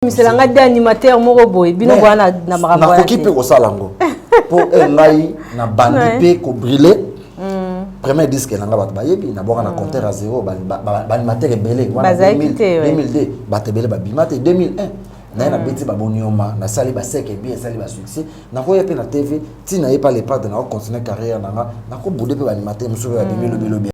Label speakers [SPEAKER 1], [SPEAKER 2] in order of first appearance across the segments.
[SPEAKER 1] komisela ngai de animateur moko boye bino boya na makambo nakoki mpe kosala yango
[SPEAKER 2] mpo eh, ngai na bandi mpe kobrile mm. premier disque na ngai bato bayebi na bwaka na mm. compteur ya zero baanimateur ebele 2002 bato ebele babima te 2001 naye nabeti babonioma nasali baseke ebie esali basuccès nakoya mpe na tv ntina ye pa lepade nakocontinue carrière na nga nakobude mpe baanimateur mosusu oyo abimi lobilobi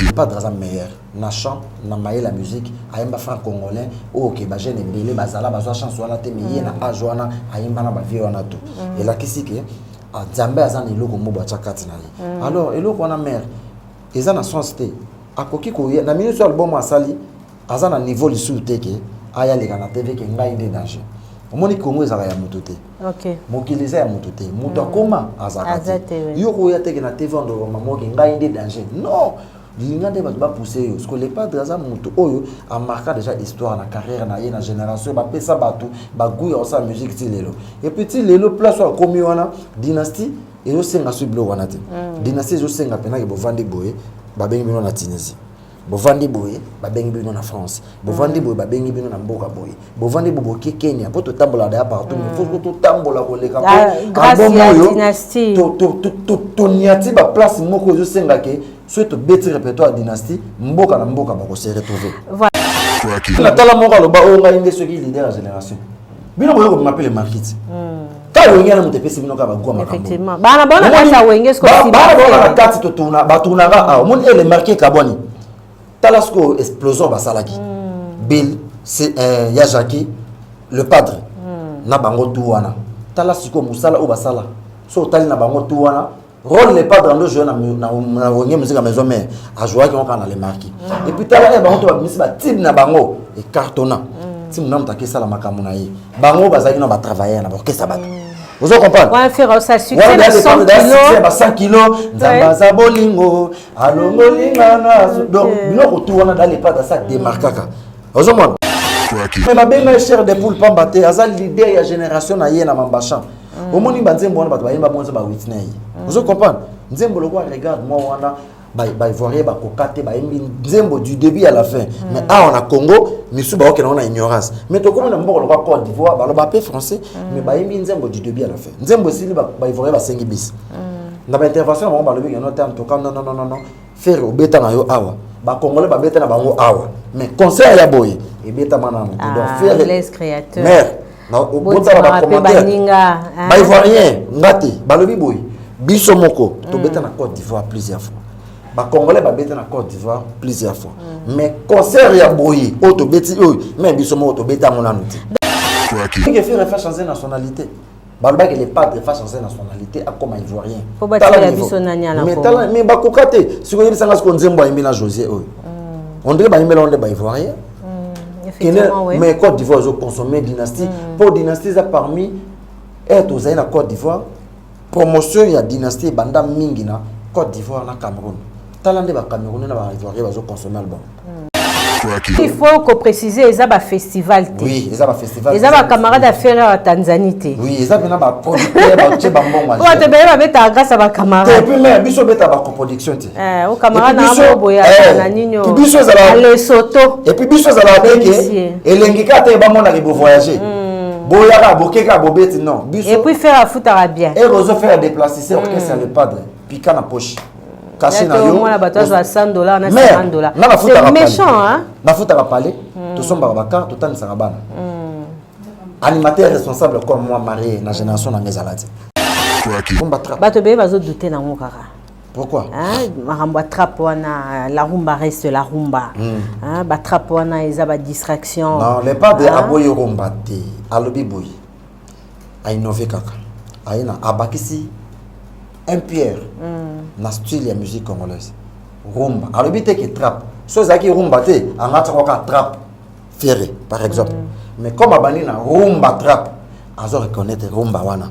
[SPEAKER 2] lepade aza meilleur na chant na mayela musique ayemba franc congolais oyo oh, ke ba jeune ebele bazala bazwa chance wana te mais ye na mm. age wana ayemba na bavie wana to mm. elakisi ke ah, nzambe aza na eloko mobo atya kati na ye mm. alors eloko wana mare eza na sens te akoki koya na minute ya album asali aza na niveau lisusu te ke aya leka na tv ke ngai nde danger omoni kongo ezalaka ya moto te mokili eza
[SPEAKER 1] ya moto te
[SPEAKER 2] moto akoma azalaka te yo koya teke na tv andoroma moke ngai nde danger non linga nde bato bapuse yo siko le padre aza moto oyo amarka déjà histoire na carrière na ye na génération bapesa bato bagout ya kosala musique ti lelo epuis ti lelo place oyo akomi wana dynastie ezosenga so biloko wana te mm. dynastie ezosenga mpenake bovandi boye babengi bino na tunisie bovandi boye babengi bino na france bovandi boye babengi bino na mboka boye bovandi bo boke kenya mpo totambola daya partout mais faut totambola koleka
[SPEAKER 1] mpo
[SPEAKER 2] toniati baplace moko ezosenga ke soki tobeti répertoire ya dynastie mboka na mboka bakose retrouve natala moko aloba oyo ngai nde soki leader ya génération bino boye kobima mpe le markiti kaka wenge yana moto epesi bino kaka bagwa makambobana
[SPEAKER 1] baona kati
[SPEAKER 2] totourna batunaka omoni ele marke ekabwani tala sikoyo explosion basalaki mm. bill euh, ya jacqui le padre mm. na bango tu wana tala sikoyo mosala oyo basala so otali na bango tu wana role le padre ando joue na wenge mosika maison mare ajouaki ngo kaka na le marki mm. epuis tala e eh, bango to babimisi batime na bango ecartona mm. ti monamu taki esala makambo na ye bango bazalaki na batravailleur na baorkestra bato mm. ozo comprendre wana
[SPEAKER 1] ba 100 kilo
[SPEAKER 2] nzambe aza bolingo alongoli nga na donc biloko tu wana dale pata sa demarkaka ozomona me babenga ye cher de poule pamba te aza leader ya génération na ye na mambachan mm. omoni banzembo wana bato bayemba bonza ba witney mm. ozo comprendre nzembo lokola regarde moi wana baivoirien bakoka te bayembi nzembo du début à la fin mm. mais awa na congo misu baoke nango na ignorance mais tokomi na mboka lokola cote d'ivoire baloba mpe français mais bayembi nzembo du début à la fin nzembo esili baivoirien basengi bisi na ba intervention na bango balobi ngeno te antoka non non non non ferre obeta na yo awa bakongole babeta na bango awa mais concert ya boye ebetama na moto donc ah, ferre mère botala bacommentaire baivoirien nga te balobi boye biso moko mm. tobeta na cote d'ivoire plusieurs fois bacongolais babeta na cote d'ivoire plusieurs fois mm. mais concert ya boye oyo tobeti oyo me biso moko tobeta yango nanu te ferre fa change nationalité mm. balobaki le padre face aza nationalité akoma ivoirien po batikela biso
[SPEAKER 1] nani alakoma mais bakoka te
[SPEAKER 2] siko yebisa nga siko nzembo ayembi na josé oyo mm. on dirait bayembela ngo nde ba ivoirien mm, kene mais côte d'ivoire ezo consommer dynastie mm. po dynastie eza parmi ete ozali na côte d'ivoire promotion ya dynastie ebanda mingi na côte d'ivoire na cameroun tala nde ba camerounais na ba ivoirien bazo consommer album
[SPEAKER 1] il faut ko préciser eza ba festival te oui eza ba festival
[SPEAKER 2] eza ba camarade ya ferre
[SPEAKER 1] ya tanzanie te oui eza pena ba
[SPEAKER 2] producteur ba tie ba mbongo po te bele ba beta
[SPEAKER 1] grâce à ba camarade et puis mais biso beta
[SPEAKER 2] ba coproduction te eh o camarade na bo
[SPEAKER 1] boya eh, na ninyo puis biso eza la le
[SPEAKER 2] soto et puis biso
[SPEAKER 1] eza la
[SPEAKER 2] beke elengi ka te ba mona ke bo voyager mm. boyaka bokeka bobeti non biso et puis faire afutaka
[SPEAKER 1] bien et ozo faire déplacer
[SPEAKER 2] c'est orchestre mm. le padre pika na poche kasi na yo mwana bato azwa 100 dollars
[SPEAKER 1] na 50 dollars na nafutaka méchant hein nafutaka palais
[SPEAKER 2] hmm. tosombaka baka totanisaka bana hmm. animateur responsable comme moi marié na génération na ngezala te
[SPEAKER 1] bato beye bazodoute nango kaka pourquoi hein,
[SPEAKER 2] makambo
[SPEAKER 1] atrape wana la rumba reste la rumba hmm. hein, batrape wana eza badistraction non le pas de
[SPEAKER 2] aboyi rumba te alobi boye a innove kaka aye na abakisi un pierre mm. na style ya musique congolaise rumba alobi te ke trap so ezalaki rumba te angatisaka kaka trap ferre par exemple mm. mais comme abandi na rumba trap azo reconnaitre rumba wana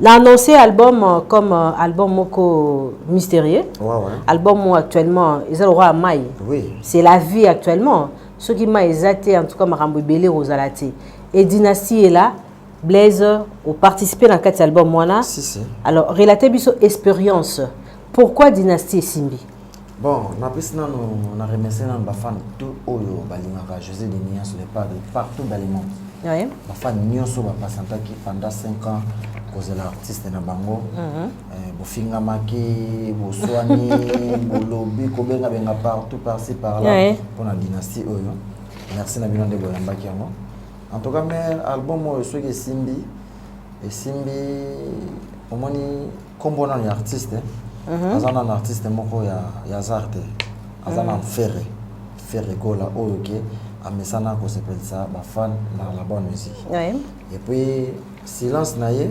[SPEAKER 1] Na annonce album comme album moko mysterieux. Ouais, ouais. Album
[SPEAKER 2] moko actuellement
[SPEAKER 1] eza lokola mai. Oui. C'est la
[SPEAKER 2] vie
[SPEAKER 1] actuellement. Soki mai eza te en tout cas makambo ebele kozala te. Et dynastie est là. Blaise oparticipe na kati ya album wana. Si, si. Alors
[SPEAKER 2] relate biso
[SPEAKER 1] experience. Pourquoi dynastie esimbi? Bon, napesi
[SPEAKER 2] nano na remercier nano ba fans tout oyo balingaka José de Nias le padre partout dans le monde. Oui. Ba fans
[SPEAKER 1] nionso
[SPEAKER 2] ba patientaki pendant 5 ans kozela artiste na bango. Mm -hmm. eh, bofingamaki, boswani, bolobi, kobenga benga partout par ci par là oui. pour la dynastie oyo. Merci na bino nde boyambaki yango. En tout cas, mère album oyo soki esimbi esimbi omoni kombo nanu ya artiste mhm. aza nanu artiste moko ya, ya zar te aza mhm. na fere fere gola oyo ke amesana kosepelisa bafan na la bonne musique oui. et puis silence na ye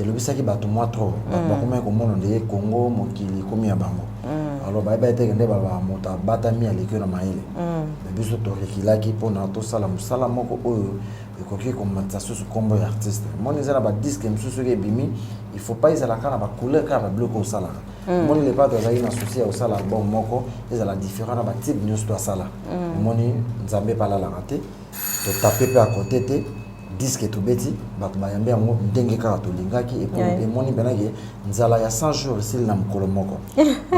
[SPEAKER 2] elobisaki bato mwa trop bato mhm. bakomaki komona nde ye congo mokili ekomi ya bango alors bayebaki teke nde baba moto abatami aleki na mayele me biso torekilaki mpona tosala mosala moko oyo ekoki komatisa susu nkombo ya artiste moni eza na badiske mosusu soki ebimi il faut pas ezala kaka na bacouleur kaka babiloko osalaka hmm. moni lepato azalaki na souci ya kosala album moko ezala différent na batibe nyonso to asala hmm. moni nzambe epe alalaka te totape mpe akote te diske tobeti bato bayambi yango ndenge kaka tolingaki emoni mpena ke nzala ya 100 jours esili na mokolo moko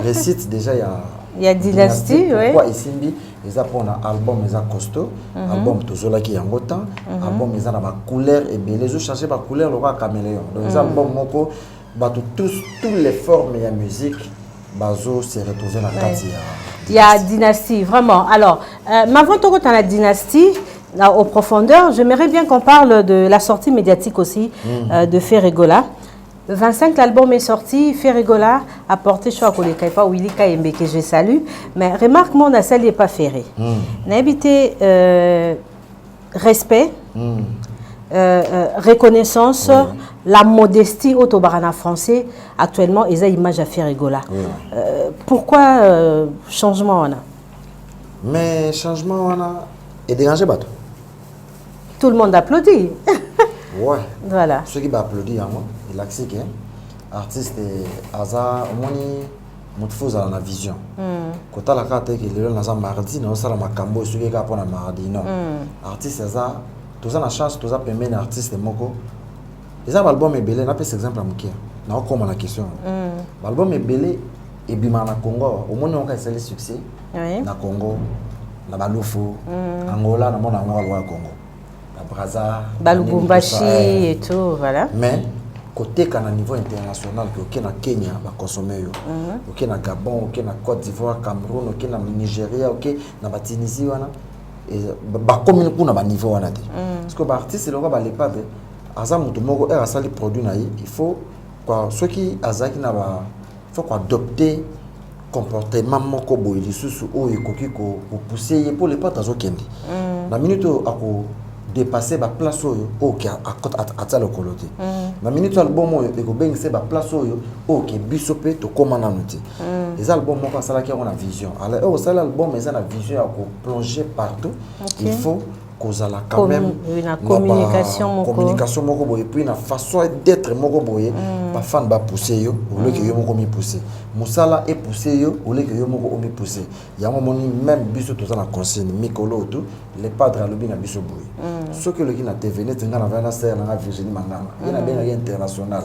[SPEAKER 2] récite déjà ya ya dynastie pourquoi
[SPEAKER 1] esimbi
[SPEAKER 2] eza pona album eza costaud mm -hmm. album tozolaki yango temps mm -hmm. album eza na ba couleur ebele ezo changer ba couleur lokola caméléon donc eza mm -hmm. album moko bato tous tous les formes ya musique bazo se retrouver na kati ya ya
[SPEAKER 1] dynastie vraiment alors euh, mavant tokota na dynastie là, au profondeur j'aimerais bien qu'on parle de la sortie médiatique aussi mm -hmm. euh, de Ferregola 25 l'album est sorti, Ferre Gola a porté choix koleka epa Willy Kayembe que je salue, mais remarque mon asali epa Ferre. Mm. Nayebi te euh, respect, mm. euh, euh, reconnaissance, mm. la modestie oyo tobaka na français actuellement eza image ya Ferre Gola. Mm. Euh, pourquoi euh, changement wana? Mais
[SPEAKER 2] changement wana e dérange bato. Tout
[SPEAKER 1] le monde applaudit. ouais.
[SPEAKER 2] Voilà. Ceux qui
[SPEAKER 1] applaudissent, yango,
[SPEAKER 2] il accepte hein. artiste aza omoni moto fo ozala na vision hmm. kotala kaka te ke lelo naza mardi naosala makambo soki kaka mpo na mardi non hmm. artiste aza toza na chance toza pembeni ya artiste moko eza baalbum ebele napesa exemple ya moke naokoma na question hmm. baalbum ebele ebimaka na congo awa omoni yango kaka esali succès Oui. na congo na balufu angola namona yango kaka lokola congo na braza na nini, Balubumbashi
[SPEAKER 1] tout ça, eh. et tout, voilà. mais
[SPEAKER 2] koteka na niveau international ke oke na kenya baconsomme yo oke na gabon oke na côte d'ivoire cameroun oke na nigeria oke na batunisie wana eza- ba- bakomi kuna baniveau wana te parce que baartiste eloko balepade aza moto moko ere asali produit na ye il faut kwa- soki azalaki na ba faut ko adopter comportement moko boye lisusu oyo ekoki kopousse ye mpo lepote azokende mm. na minute oyo ako dépasse baplace oyo oke atya lokolo te mm. na minute album oyo ekobengisa baplace oyo oke biso mpe tokóma nanu te mm. eza album moko asalaki yango na vision alors oyo osali album eza na vision ya koplonge partout il faut kozala quand même na communication
[SPEAKER 1] moko communication moko boye puis na
[SPEAKER 2] façon d'être moko boye mm. ba fan ba pousser yo au lieu que mm. yo moko mi pousser musala et pousser yo au lieu que yo moko omi pousser yango moni même biso toza na consigne mikolo tout le padre alobi na biso boye mm. soki oloki na TV net nga na vana sœur na Virginie Manganga ye na mm. benga international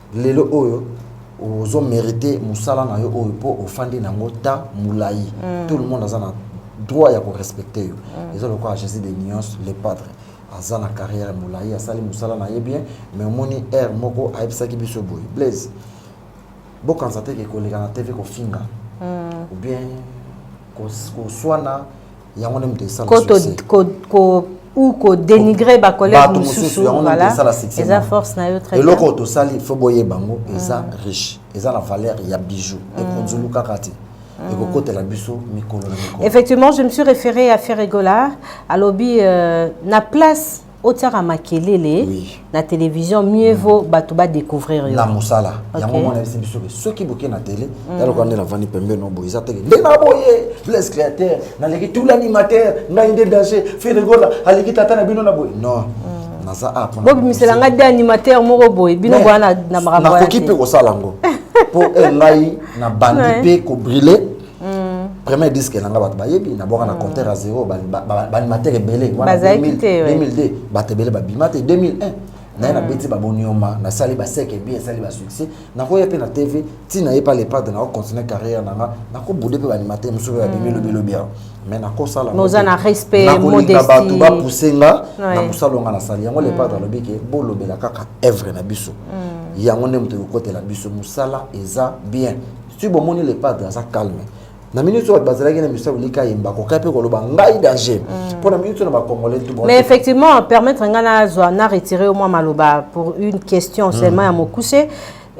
[SPEAKER 2] lelo oyo ozo merite musala na yo oyo po ofandi na yango temps mulayi mm. tout le monde aza na droit ya ko respecter yo mm. eza lokola Jésus de Nyons le padre aza na carrière mulayi asali musala na ye bien mais omoni heure moko ayebisaki biso boye Blaise bokanisa te ke koleka na TV kofinga mm. ou bien koswana ko yango nde moto esala ou
[SPEAKER 1] kodenigre bacollègue mosusu voilà eza force na yo très eloko tosali fo boyeba
[SPEAKER 2] yango mm. eza riche eza na valeur ya bijou mm. ekonzulu kaka te mm. ekokotela biso mikolo na mikolo effectivement je me suis référé
[SPEAKER 1] à ferregola alobi euh, na place otiaka makelele oui. na télévision mieux vaut mm. bato badécouvrir yo na mosala okay. yango
[SPEAKER 2] mwana yebisi biso ke soki boke na télé mm. yalokola nde navandi pembe no boye eza teke nde na boye blaise créateur naleki tout l'animateur ngai nde danger feregola aleki tata na bino na boye non mm. naza a bobimisela ngai de
[SPEAKER 1] animateur moko boye bino boya na makambo nakoki mpe kosala yango
[SPEAKER 2] mpo eh, ngai nabandi mpe kobrile Mm. premier disque na nga bato bayebi nabwaka na mm. compteur ya zero baanimateur ebele wana 2002 bato ebele babima te 2001 naye nabeti mm. babonioma nasali baseke bi esali basuccès nakoya mpe na tv ti naye pa lepade nakocontinue carrière na nga nakobude mpe baanimateur mosusu oyo abimi lobilobi awa mais nakosalaoza na respectnakolinga
[SPEAKER 1] bato bapuse
[SPEAKER 2] nga na mosala onga nasali yango lepade alobi ke bolobela kaka evre na biso yango nde moto ekokotela biso mosala eza bien soki bomoni le padre aza calme na minute oyo bazalaki na misabu lika ayemba kokai mpe koloba ngai danger mm. mpo na minute oyo na bacongolais mais effectivement
[SPEAKER 1] permettre ngai nazwa na retire yo mwa maloba pour une question mm. seulement ya mokuse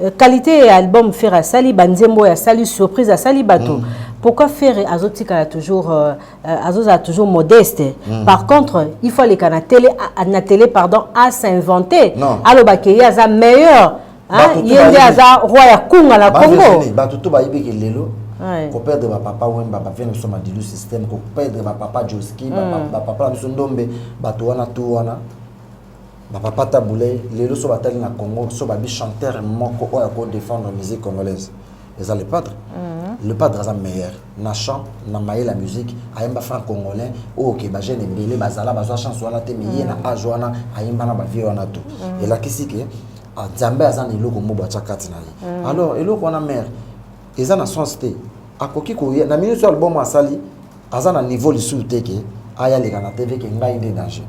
[SPEAKER 1] euh, qualité ya album ferre asali banzembo oyo asali surprise asali bato mm. pourquoi ferre azotikala toujours euh, euh, azozala toujours modeste mm. par contre il faut aleka na tele na tele pardon a s'inventer alobake ye aza meilleur ye nde aza roi ya kunga na congo bato to bayebi ke
[SPEAKER 2] lelo koperdre bapapa wemba bavie na biso madilu systeme koperdre bapapa joski hmm. bapapa na biso ndombe bato wana to wana bapapa tabule lelo so batali na congo so babi chanteur moko oyo akodefendre musique congolaise eza le padre le padre aza meilleur na chant na mayele ya musique ayemba franc congolais oyo ke bajeune ebele bazala bazwa chance wana te mais ye na age wana ayemba na bavie wana to elakisi ke ah, nzambe aza na eloko mobo atya kati na ye alors eloko wana mare eza na sens te akoki koya na minute oyo album asali aza na niveau lisusu te ke aya leka na tv ke ngai nde danger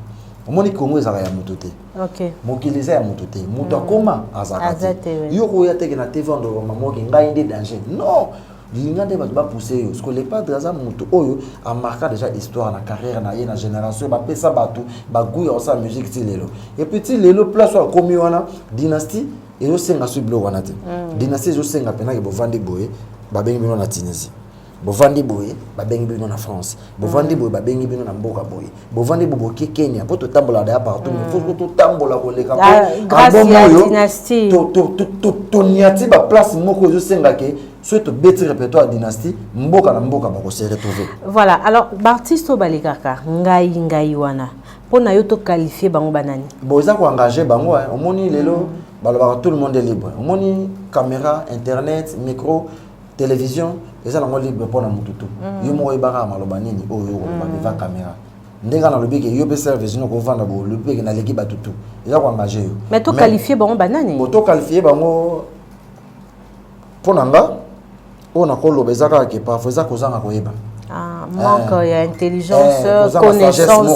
[SPEAKER 2] omoni kongo ezalaka ya moto te okay. mokili eza
[SPEAKER 1] ya moto te
[SPEAKER 2] moto mm. akoma azalaka te yo koya teke na tv ondoloba mamoke ngai nde danger non linga nde bato bapuse yo siko lepadre aza moto oyo amarka déjà histoire na carrière na ye na génération bapesa bato bagout ya kosala musique ti lelo epuis ti lelo place oyo akomi wana dynastie ezosenga so biloko wana te mm. dynastie ezosenga mpenake bovandi boye babengi bino na tunisie bovandi boye babengi bino na france bovandi boye babengi bino na mboka boye bovandi boye boke kenya mpo totambola daya partout mais faut totambola koleka mpoalbum
[SPEAKER 1] oyo
[SPEAKER 2] toniati baplace moko ezosenga ke soki tobeti répertoire ya dynastie mboka na mboka bakose retrouver voilà alors
[SPEAKER 1] baartiste oyo balekaka ngai ngai wana mpo na yo toqualifie bango banani bon eza koengage
[SPEAKER 2] bango omoni lelo balobaka tout le monde est libre omoni caméra internet micro television eza nango libre mpo na motu tu mm. yo moko oyebaka maloba nini oyo yo okoloba mm. devant caméra ndenge ana alobi ke yo mpe service noko ovanda bo olobi mpe ke naleki bato tu eza koengage yo mais toqualifie bango
[SPEAKER 1] banani bo toqualifie bango
[SPEAKER 2] mpo na nga oyo nakoloba eza kaka ke parfois eza kozanga koyeba
[SPEAKER 1] ah, manque eh. ya intelligence eh, connaissance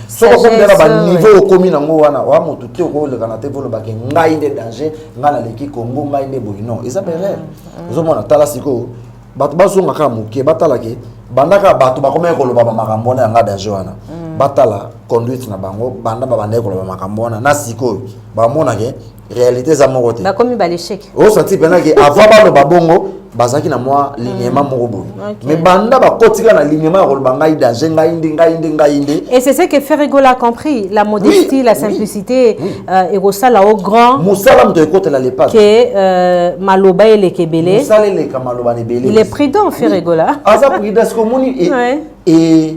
[SPEAKER 1] soko
[SPEAKER 2] okomela baniveau okomi nango wana oya motu te okolekana te volobake ngai nde danger ngai naleki congo ngai nde boye non eza berere mm, mm. ozomona tala sikoyo bato bazonga kaka moke batala ke banda kaka bato bakomaki koloba bamakambo wana ya ngai danger wana mm. batala conduite na bango banda babandaki koloba makambo wana na sikoyo bamonake réalité eza moko te bakomi balechec
[SPEAKER 1] osanti mpenza ke
[SPEAKER 2] avant baloba bongo bazalaki na mwa linyema mm. moko boye okay. mais banda bakotika na linyema ya koloba ngai danger ngai nde ngai nde ngai nde et c'est ce que ferregola
[SPEAKER 1] a compris la modestie oui, la simplicité oui, oui. Euh, ekosala au grand mosala moto ekotela
[SPEAKER 2] lepage ke euh,
[SPEAKER 1] maloba eleka ebele mosala eleka maloba na
[SPEAKER 2] ebele il est prudent ferregola
[SPEAKER 1] oui. aza prudent siko omoni
[SPEAKER 2] e, ouais. e,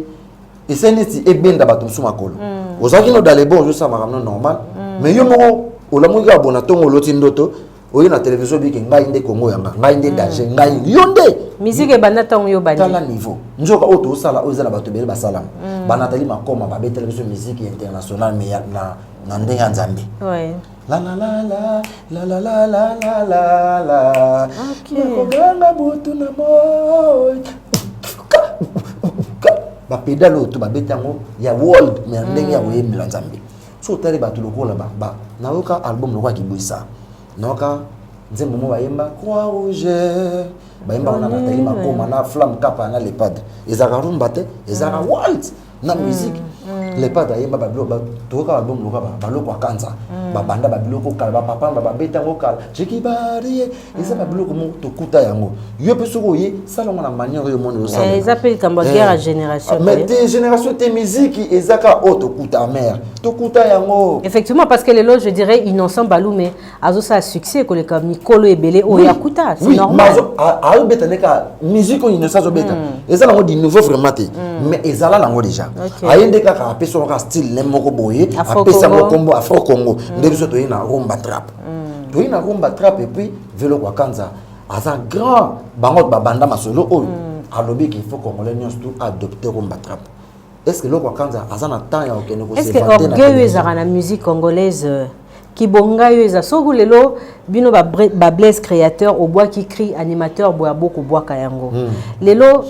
[SPEAKER 2] esali neti ebenda bato mosusu makolo mm. ozalaki no dalebo ozosala makambo no normal mm. mais yo moko olamuki abona ntongo oloti ndoto oye na televizio oyoki ngai nde kongo yanga ngai nde hmm. danger ngai yo nde miziki ebanda ntango
[SPEAKER 1] yo obanditala niveau nzoka
[SPEAKER 2] oyo tosala oyo eza na bato ebele basalama hmm. banatali makoma babetela biso miziki international me na ndenge ya nzambe nakoganga butu na moi bapedale oyo to babeta yango ya world me ya ndenge ya koyembela nzambe so otali bato lokola ba nayoka album lokola kibwisa nayoka nzembo mo bayemba croix rouge bayemba wana batali makoma na flamme kapa na lepade ezalaka rumba te ezalaka mm. walt na mm. musique mm. lepade ayemba babiloko toyoka album lokola baloko akanza babanda babiloko kala bapapa bababeta yango kala jekibari eza ba biloko moko tokuta yango yo mpe soki oye sala yango na manière oyo omoni osala eh, eza mpe likambo ya eh. guerre ya
[SPEAKER 1] génération mais te génération
[SPEAKER 2] te miziki eza ka oyo tokuta mare tokuta yango effectivement parce que lelo
[SPEAKER 1] je dirais innocent balume azosala succès koleka mikolo ebele oyo akuta c'est normal ayobeta nde ka
[SPEAKER 2] musique oyo innocent azobeta hmm. eza nango du nouveau vraiment te hmm. mais ezala nango déjà aye nde kaka apesa yango ka style ne moko boye apesa yango kombo afro congo hmm. nde biso toye na rumba trap mm. toyi na rumba trap epuis velo kwa kanza aza grand bango babanda masolo oyo mm. alobi ke faut congolais nyonso tu adopte rumba trap est ce que eloko akanza aza na temps ya kokende koseorgueil ezalaka
[SPEAKER 1] na musique congolaise euh, kibonga yo eza soki lelo bino bablaise créateur obwaki cri animateur boya bokobwaka yango mm. lelo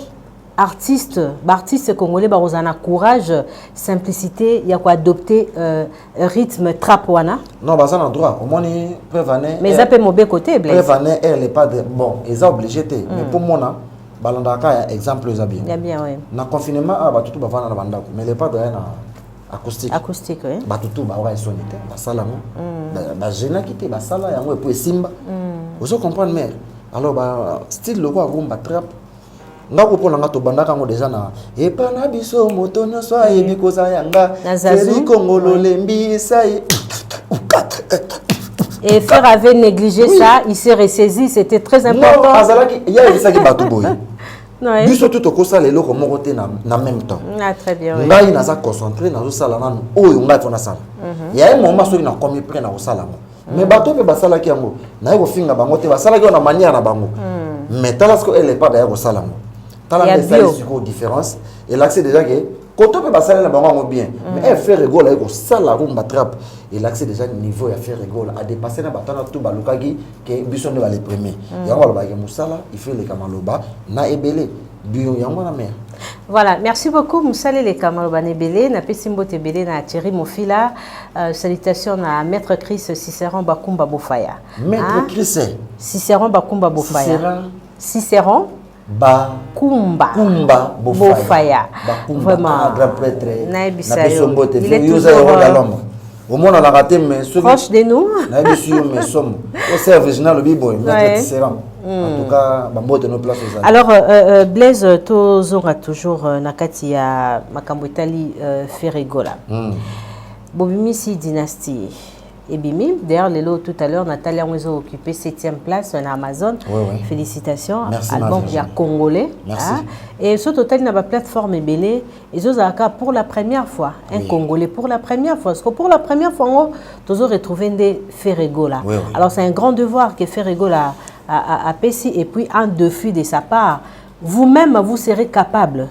[SPEAKER 1] artiste baartiste congolais bakozala na courage simplicité ya koadopte euh, rythme trap wana non baza na droit
[SPEAKER 2] omoni preuve année mais eza mpe mobeko
[SPEAKER 1] te preuve année elle est pas de
[SPEAKER 2] bon eza obligé te mais mpo mm. mona balandaka kaka ya exemple eza bien na confinement
[SPEAKER 1] awa ah,
[SPEAKER 2] bato tu bavanda na bandako mais le padre aya na acoustique acoustique oui. bato tu
[SPEAKER 1] baoka esoni
[SPEAKER 2] te basala yango mm. bagenaki te basala yango epo esimba mm. ozo comprendre mare alors ba style lokola rumba trappe nga ko pona nga tobandaka yango deja na epa na biso moto nyonso ayebi koza ya nga seli kongo lolembi esai Et
[SPEAKER 1] Ferre avait négligé oui. ça, il s'est ressaisi, c'était très important. Non, azalaki, il y a ça
[SPEAKER 2] qui bat tout boy. biso tu tokosala eloko moko te na même temps ah, ngai
[SPEAKER 1] naza concentré
[SPEAKER 2] nazosala nanu oyo ngai mpo nasala mhm. ya ye moma soki nakomi près nakosala yango mais mm. bato mpe basalaki yango naye kofinga bango te basalaki yango na manière na bango mm. mais tala siko ele epada ya kosala yango tala nde esali sikoyo différence elakisi déjà ke koto mpe basali na bango yango bien mm. mais eh, ferre egola aye kosala rumba trappe elakisi déjà niveau ya ferre egola adepasse na batana tu balukaki ke biso nde bale premier yango balobaki mosala il faut eleka maloba na ebele duo yango wana mea Voilà, merci
[SPEAKER 1] beaucoup Moussale les Kamaloba Nebele, na pesi mbote belé na Thierry Mofila. Euh, salutations à Maître Chris Cicéron Bakumba Bofaya. Maître hein? Chris
[SPEAKER 2] Cicéron Bakumba
[SPEAKER 1] Bofaya. Cicéron Cicéron ba kumba kumba bofaya, bofaya. Bakumba, vraiment ah,
[SPEAKER 2] grand prêtre na biso
[SPEAKER 1] mbote il
[SPEAKER 2] est toujours omonanaka te mais soki proche de nous
[SPEAKER 1] nayebisi yo mais
[SPEAKER 2] somo o serve original obi boye maître tisserand en tout cas bambote no place ozali alors euh, euh, euh
[SPEAKER 1] blaise euh, tozonga toujours euh, na kati ya makambo etali euh, ferregola mm. bobimisi dynastie ebimi d'ailleurs lelo tout à l'heure natali yango ezo occupe 7e place na amazon ouais, ouais. félicitations
[SPEAKER 2] Merci,
[SPEAKER 1] album ya
[SPEAKER 2] congolais
[SPEAKER 1] Merci.
[SPEAKER 2] Hein? et soki totali
[SPEAKER 1] na baplateforme ebele ezozala kaka pour la première fois un oui. congolais pour la première fois parce que pour la première fois yango tozo retrouve nde ferregola oui, oui. alors c'est un grand
[SPEAKER 2] devoir
[SPEAKER 1] que ferregola apesi et puis un défi de sa part vous-même vous serez capable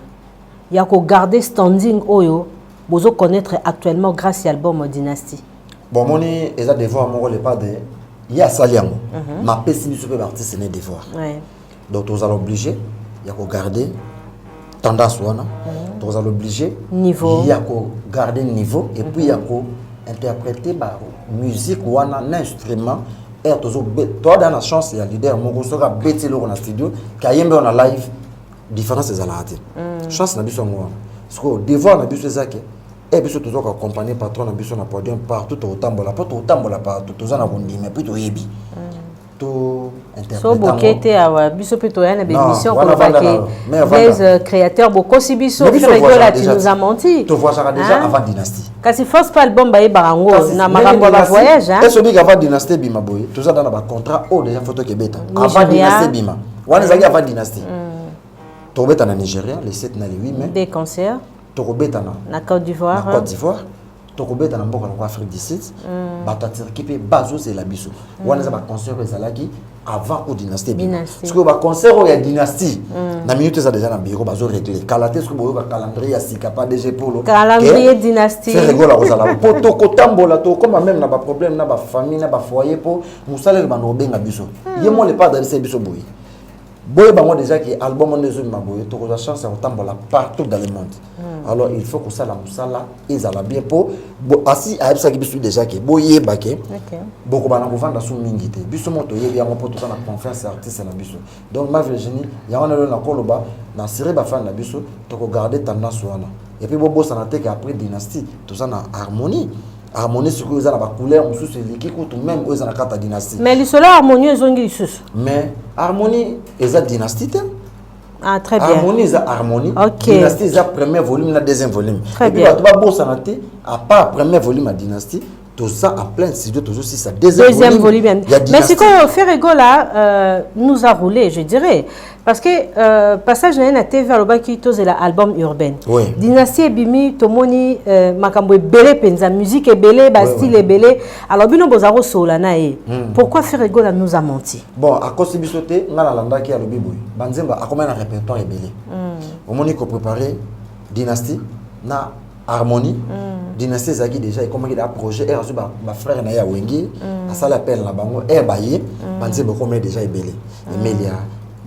[SPEAKER 1] ya kogarde standing oyo bozo connaître actuellement grâce ya album dynastie bomoni
[SPEAKER 2] eza devoir moko lepade ye asali yango mapesi biso mpe baartiste ne devoir ouais. donc tozala oblige ya kogarde tendance wana mhm. tozala oblige ya
[SPEAKER 1] kogarde
[SPEAKER 2] niveau et puis ya mhm. ko interpréter ba musique wana na instrument heure tozo toada na chance ya leader moko soki abeti eloko na studio kayembe wana live différence ezalaka te mm. chance na biso yango wana sikoyo devoir na biso eza ke e eh, biso toza koaccompagne patron na biso na podium partout tokotambola mpo tokotambola partout toza na kondima mpe toyebi mm. to so
[SPEAKER 1] boke te awa biso mpe toya na bémission koloba ke blaise euh, créateur bokosi biso fiola tu nous a menti tovoisaka déjà avant
[SPEAKER 2] dynastie kasi force pas album
[SPEAKER 1] bayebaka yango na makambo ya bavoyage est obiki avant dynastie ebima
[SPEAKER 2] boye toza da na bacontrat oyo oh, déjà foto kebeta avant dynastie ebima wana ezalaki avant dynastie mm. tokobeta na nigeria le 7 na le 8 mai des concerts
[SPEAKER 1] tokobetana
[SPEAKER 2] na côte d'ivoire na
[SPEAKER 1] côte d'ivoire tokobeta
[SPEAKER 2] na mboka lokola afrique du sud mm. bato ya turki mpe bazozela biso mm. wana eza baconcert ezalaki avant o dynastie ebima sikoyo baconcert oyo ya dynastie mm. na minute eza deja na biro bazo réglé kala te soki boyoka calendrier ya sika pa dg polo calendrier dynastie
[SPEAKER 1] ferregola akozala
[SPEAKER 2] mpo tokotambola tokokoma meme na baproblème na bafamille na bafoyer mpo mosala ebanda kobenga biso ye mo lepa adalisa biso boye boye bango déjà ke album wana ezobima boye tokozwa chance ya kotambola partout dans le monde hmm. alors il faut kosala mosala ezala bien mpo asi ayebisaki biso déjà ke boyeba ke bokoba na kovanda su mingi te biso moko toyebi yango mpo toza na confiance ya artiste na biso donc ma virginie yango wana lelo nakoloba na siri bafani na biso tokogarde tendance wana epuis bobosana te ke après dynastie toza na harmonie harmonie sikoyo eza na bacouleur mosusu eleki kutu meme oyo eza na kati ya dynastie mais lisolo ya harmonie
[SPEAKER 1] ezongi lisusu mais harmonie
[SPEAKER 2] eza dynastie te Ah, très bien.
[SPEAKER 1] Harmonie eza harmonie.
[SPEAKER 2] Ok. Dynastie eza
[SPEAKER 1] premier
[SPEAKER 2] volume na deuxième volume. Très bien. Bato babosana te à part premier volume ya dynastie toza en plein studio tozosisa deuxième, deuxième volume, volume ya dynastie. Mais sikoyo
[SPEAKER 1] Ferregola euh, nous a roulé je dirais parce que euh, passage na ye na tv alobaki tozela album urbaine oui. dynastie
[SPEAKER 2] ebimi
[SPEAKER 1] tomoni euh, makambo ebele mpenza musique ebele bastyle oui, oui. ebele alors bino boza kosolola na ye mm. pourquoi ferregola nous a menti bon akosi biso
[SPEAKER 2] te ngai nalandaki alobi boye banzemba akomai na répertoire ebele mm. omoni koprépare dynastie na harmonie mm. dynastie ezalaki déjà ekomaki da projet ere azwi bafrère na ye ya wenge mm. asali appel na bango ere baye mm. banzembo ekomaki déjà ebele mm. emelia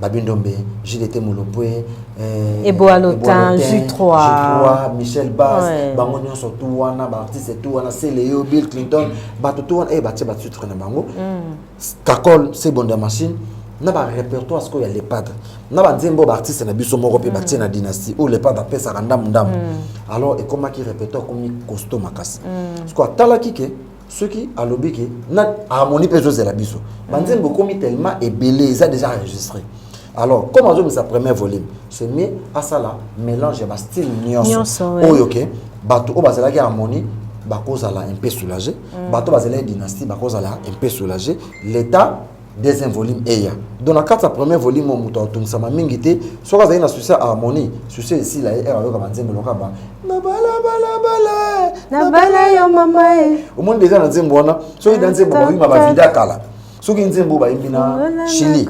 [SPEAKER 2] babindombe gdt molopwe eh, eboalotin
[SPEAKER 1] ju 3 michel bas
[SPEAKER 2] ouais. bango nyonso tu wana baartiste tu wana celeo bill clinton bato tu wana eye eh, batie batitre na bango mm. kakol sebo nda machine na ba répertoire sikoyo ya lepadre na banzembe oyo baartiste na biso moko mpe mm. batie na dynastie oyo lepadre apesaka ndambu ndambu mm. alors ekomaki répertoire ekomi costo makasi mm. sikoyo atalaki ke soki alobi ke na harmonie mpe ezozela biso banzembe ekomi tellement ebele eza déjà enregistré alors comme azobimisa premier volume c'est mieux asala mélange ya bastyle nyonso oyo ke bato oyo bazalaki harmonie bakozala un peu soulagé mm. bato bazalaki dynastie bakozala un peu soulagé l'état deuxième volume eya donc na kati ya premier volume oyo moto aotungisama mingi te soki azali na susi ya harmonie susi esila ye ere ayoka banzembo loka ba nabalabalabala nabala yo mama e omoni deja na nzembo wana soki na nzembo bawima bavida kala soki nzembo bayimbi na chili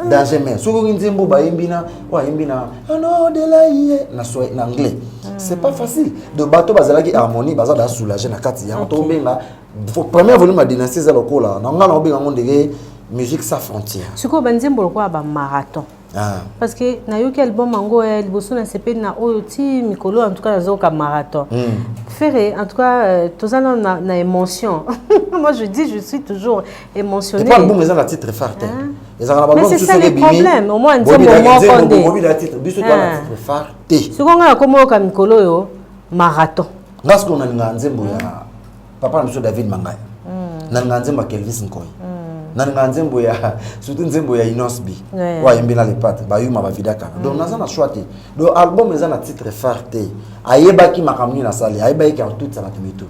[SPEAKER 2] danger mer soki nzembo bayimbi na oyo ayimbi na anodelaye na na anglais hmm. c'est pas facile de bato bazalaki harmonie baza da soulage na kati yango tobenga première volume ya dynastie eza lokola na ngai naobenga yango ndenge musique sa frontière sikoyo banzembo lokola
[SPEAKER 1] bamarathon Ah. parce que nayoki album yango eh, liboso na sepeli na oyo ti mikolo en tout cas nazoyoka marathon mm. ferre en tout cas euh, toza na, na, na émotion moi je dis je suis toujours émotionné pas album eza na titre
[SPEAKER 2] phare te hein? ezaka na balbum mosusu
[SPEAKER 1] soki ebimi bobila titre biso toa na titre
[SPEAKER 2] phare te soki ngai nakomoyoka
[SPEAKER 1] mikolo oyo marathon nga sikoyo nalingaka
[SPEAKER 2] nzembo ya papa na biso david mangai mm. nalingaa nzembo ya kelvis nkoi mm. nalingaa nzembo ya surtout nzembo ya inos b oyo ayembi na lepate bayuma bavida kaka donc mm. naza na choix te donc album eza na titre phare te ayebaki makambo nini nasali ayebaki ke akotutisa bato mitu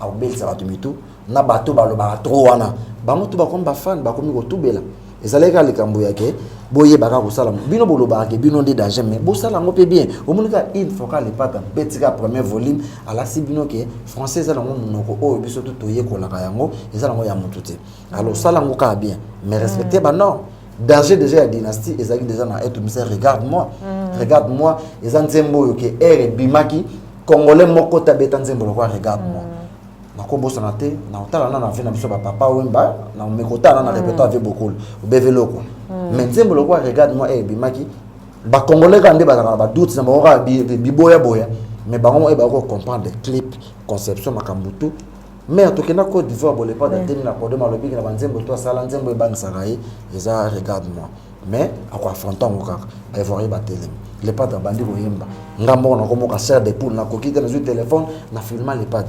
[SPEAKER 2] akobelisa bato mitu na bato balobaka tro wana bango tu bakomi bafane bakomi kotubela ezalaki kaka likambo ya ke boyebaka kosala bino bolobaka ke bino nde danger mais bosala yango mpe bien omoni kaka une fois kaka lepata abeti kaka premier volume alakisi bino ke français eza nango monoko oyo biso tu toyekolaka yango eza nango ya motu te alors sala yango kaka bien mais respecte mm. banorme danger déjà ya dynastie ezalaki déjà na eto mise regarde moi mm. regarde moi eza nzembo oyo ke ere ebimaki congolais moko te abeta nzembo lokola regarde moi mm. nakobosana te na otala na na vie na biso ba papa wemba na mekota na na mm. repertoire vie bokul obeve loko mm. mais nzembo lokola regarde moi eh bimaki ba congolais ka nde bazalaka na ba doute na bango kaka biboya boya mais bango mo eh ba ko comprendre clip conception makambo tout mais tokenda Côte d'Ivoire bolepa datemi na podium alobiki na banzembo to asala nzembo ebangisaka ye eza regarde moi mais ako affronta yango kaka baivoirien batelemi lepate abandi koyemba nga moko nakomoka ser de poule nakoki te nazwi telefone na filma lepate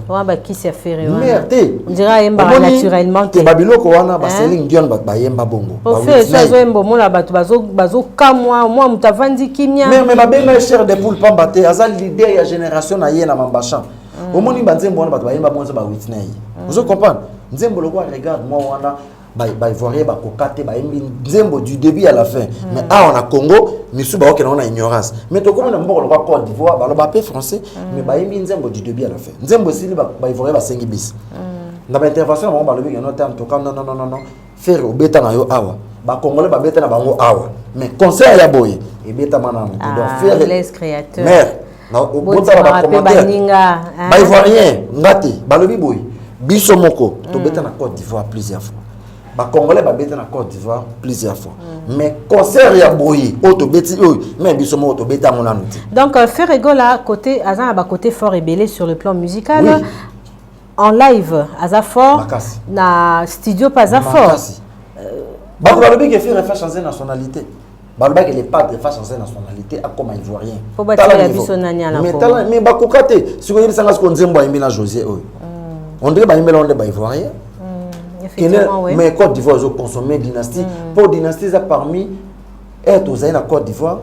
[SPEAKER 2] mer
[SPEAKER 1] te babiloko wana
[SPEAKER 2] baseling dion bato bayemba bongo azoyemba
[SPEAKER 1] omona bato bazokamwa mwa moto avandi kimia me babenga ye ser
[SPEAKER 2] de poule pamba te aza lider ya génération na ye na mambachan mm. omoni banzembo wana bato bayemba bongo eza ba witney mm. ozo comprendre nzembo lokola regarde moi wana baivoirien bakoka te bayembi nzembo du début à la fin mm. mais awa na congo misusu baokenda ngo na ignorance mais tokomi na mboka lokola cote d'ivoire baloba mpe français mm. mais bayembi nzembo du début à la fin nzembo esili baivoirien basengi bisi mm. na baintervention na bango balobi keno te antoka nonnonono fere obeta na yo awa bacongolais babeta na bango awa mais concert ya boye ebetama nano donc ah, fere
[SPEAKER 1] mère
[SPEAKER 2] botala bacommentaire baivoirien nga te balobi boye biso moko mm. tobeta na cote d'ivoire plusieurs fois bacongolais babeta na cote d'ivoire plusieurs fois mm. mais concert ya boye oyo tobeti oyo me biso moko tobeta yango nanu te donc euh, ferre egola
[SPEAKER 1] côté aza na bacoté fort ebele sur le plan musical oui. en live aza fort Makasi. na studio mpe aza fort euh,
[SPEAKER 2] bato balobi ke ferre fa change nationalité balobaki le padre face ancien nationalité akoma ivoirien po batikela biso
[SPEAKER 1] nani alakoma mais bakoka te
[SPEAKER 2] siko yebisa nga siko nzembo ayembi na josé oyo mm. on dirait bayembela ngo nde ba ivoirien mm, kene
[SPEAKER 1] mais côte d'ivoire ezo
[SPEAKER 2] consommer dynastie mm. po dynastie eza parmi ete ozali na côte d'ivoire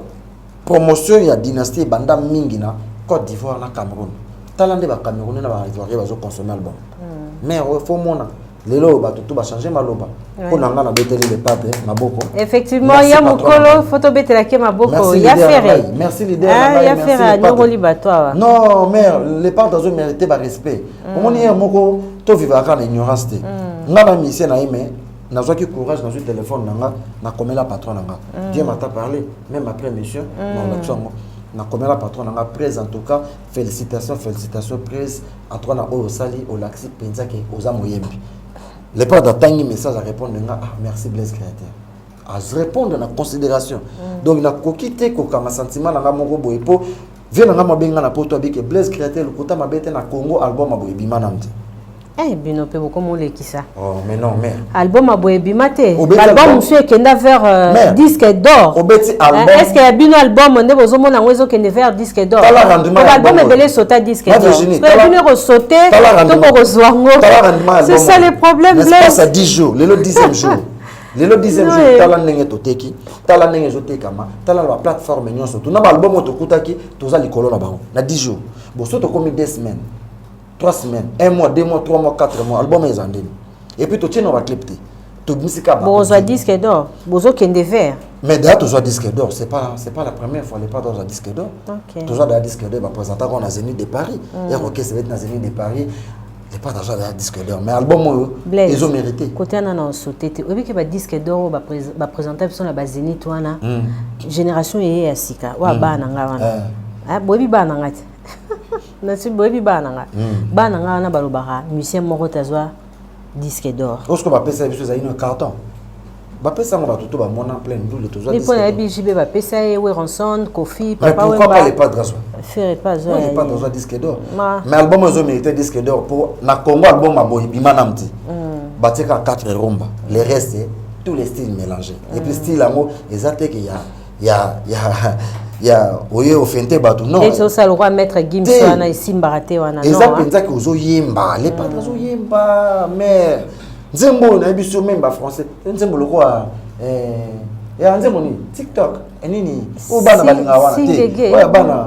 [SPEAKER 2] promotion ya dynastie ebanda mingi na côte d'ivoire na cameroun tala nde bacamerounais na baivoirien bazo consommer album mare oyo fo mona lelo oyo bato tu bachange maloba mpo na ngai nabeteli le pape maboko effectivement ya
[SPEAKER 1] mokolo fo tobetelaki ye maboko ya fere merci lider ah,
[SPEAKER 2] ya fere anyongoli
[SPEAKER 1] bato awa non mare
[SPEAKER 2] le pape azo mérite barespect mm. omoni ye moko tovivaka na ignorance te mm. ngai na misie na ye mais nazwaki courage nazwi telefone na nga nakomela patron na nga mm. dieu mata parle même après mission na olakisi yango nakomela patron na nga prese en tout cas Felicitations felicitations Praise en tout cas na oyo osali olakisi mpenza ke oza moyembi le père datangi message arépondre nga ah merci Blaise créateur arépondre na considération mm. donc nakoki te kokanga sentiment na nga moko boye mpo vie na nga mabe nga na poto abike Blaise créateur lokuta mabe te na Congo album ya boye ebima na mte Eh, bino
[SPEAKER 1] mpe bokomolekisa oh, mais non mère
[SPEAKER 2] album ya boye ebima
[SPEAKER 1] te album mosusu ekenda vers euh, disque d'or obeti eh, album est ce que ya bino album nde bozomona yango ezokende vers disque d'or album ebele esota disque d'or bino ekosote to bokozwa yango c'est ça le problème blaise 10 jours
[SPEAKER 2] lelo 10e jour lelo 10e jour tala ndenge toteki tala ndenge ezotekama tala na baplateforme nyonso tuna baalbum oyo tokutaki toza likolo na bango na 10 jours boso tokomi 2 semaines 3 semaines 1 mois 2 mois 3 mois 4 mois album eza ndeni et puis totie na ba clip te tobimisi kaka bozwa disque d'or
[SPEAKER 1] bozokende vert mais daya tozwa disque
[SPEAKER 2] d'or c'est pas c'est pas la première fois lepa tozwa disque d'or okay. tozwa daya disque d'or bapresentaka na zénith de paris mm. ero kese beti na zénith de paris lepa tozwa daya disque d'or mais album oyo ezo mérité kote ana na osote
[SPEAKER 1] te oyebi ke ba disque d'or oyo bapresenta biso na ba zénith wana mm. génération eye ya sika oyo mm. abana nga wana eh. ah, boyebi bana nga te nasi boyebi bana na nga hmm. bana na nga wana balobaka musicien moko te azwa disque d'or osko bapesa biso ezali
[SPEAKER 2] na carton bapesa yango bato to bamona plein ndule tozwampo nayebi jibe
[SPEAKER 1] bapesa ye weronson kofi papapourquoi le padre
[SPEAKER 2] azwa fere pa azwa le
[SPEAKER 1] padre azwa disque d'or
[SPEAKER 2] mais album ezo mérité disque d'or mpo na congo album aboyi bima nam ti hmm. batika 4 rumba le reste tous les styles mélangés et puis hmm. style yango eza teke ya ya ya ya oye ofente bato non esi osala lokola maître
[SPEAKER 1] gims wana esimbaka te wana eza mpenza ke ozoyemba
[SPEAKER 2] lepata azoyemba mm. mare nzembo oyo nayebi so meme bafrançais nzembo lokola eh, ya nzembo nini tiktok eh, nini oyo bana balinga wana te oyo bana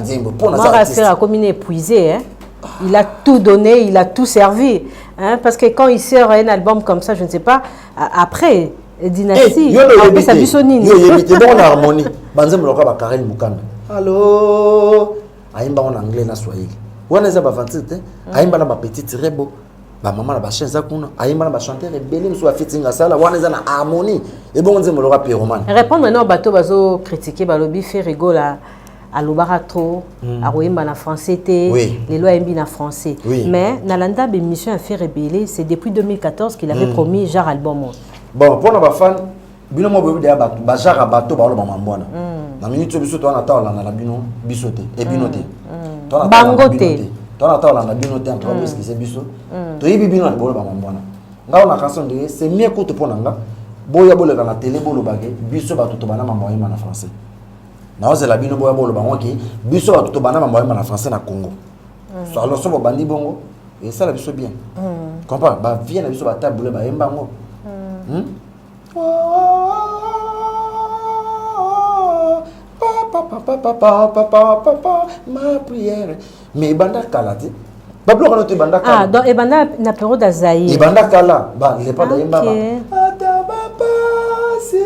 [SPEAKER 2] nzembo pona za artiste mara akomi na épuisé
[SPEAKER 1] hein il a tout donné il a tout servi hein parce que quand il sort un album comme ça je ne sais pas après dynastie
[SPEAKER 2] eh, yo le yebi te biso nini yo yebi te bon
[SPEAKER 1] harmonie
[SPEAKER 2] banzembo lokola ba Karel Mukanda allo ayimba en anglais na swahili wana eza ba 26 te mm. ayimba na ba petit rebo bamama na bachien eza kuna ayemba na bachanteur ebele mosusu afetinga asala wana eza na harmonie ebongo nzembo loka piromane répondre nao bato
[SPEAKER 1] bazocritique balobi ferigola alobaka trop mm. akoyemba na français te oui. lelo ayembi na français oui. mais nalanda bémission ya faire ebele c'est depuis 2014 qu'il avait mm. promis genre album oyo bon mpo na
[SPEAKER 2] bafane bino moko boyebi deya bato bajara bato baoloba mambo wana mm. na miniti biso towana ta olanda na bino biso te e bino te mm. bango
[SPEAKER 1] te towana ta
[SPEAKER 2] olanda bino te antoka boeskise biso toyebi bino na boloba mambo wana ngai na kanso ndenge c'est mieux kutu mpo na nga boya boleka na tele bolobake biso bato tobanda mambo ayemba na français naozela bino boya boloba ngo ke biso bato tobanda mambo yamba na français na congo mm. so alors so bobandi bongo esala biso bien mm. comprendre bavie na biso batabule bayemba yango mm. hmm? papa papa papa papa ma prière mais ebanda kala te babiloko wana to ebanda kala ah, donc ebanda na
[SPEAKER 1] periode ya zaire ebanda kala ba
[SPEAKER 2] lepa da yembama ata bapasi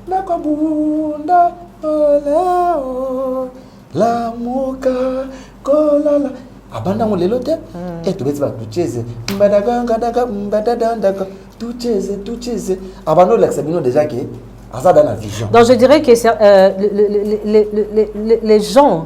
[SPEAKER 2] nakobunda oleo lamuka kolala abanda yango lelo te hmm. e tobeti ba tucheze mbadagangadaga mbadadandaka tucheze tucheze abanda olakisa bino deja ke aza da na vision donc
[SPEAKER 1] je dirais que euh, les, les, les, les gens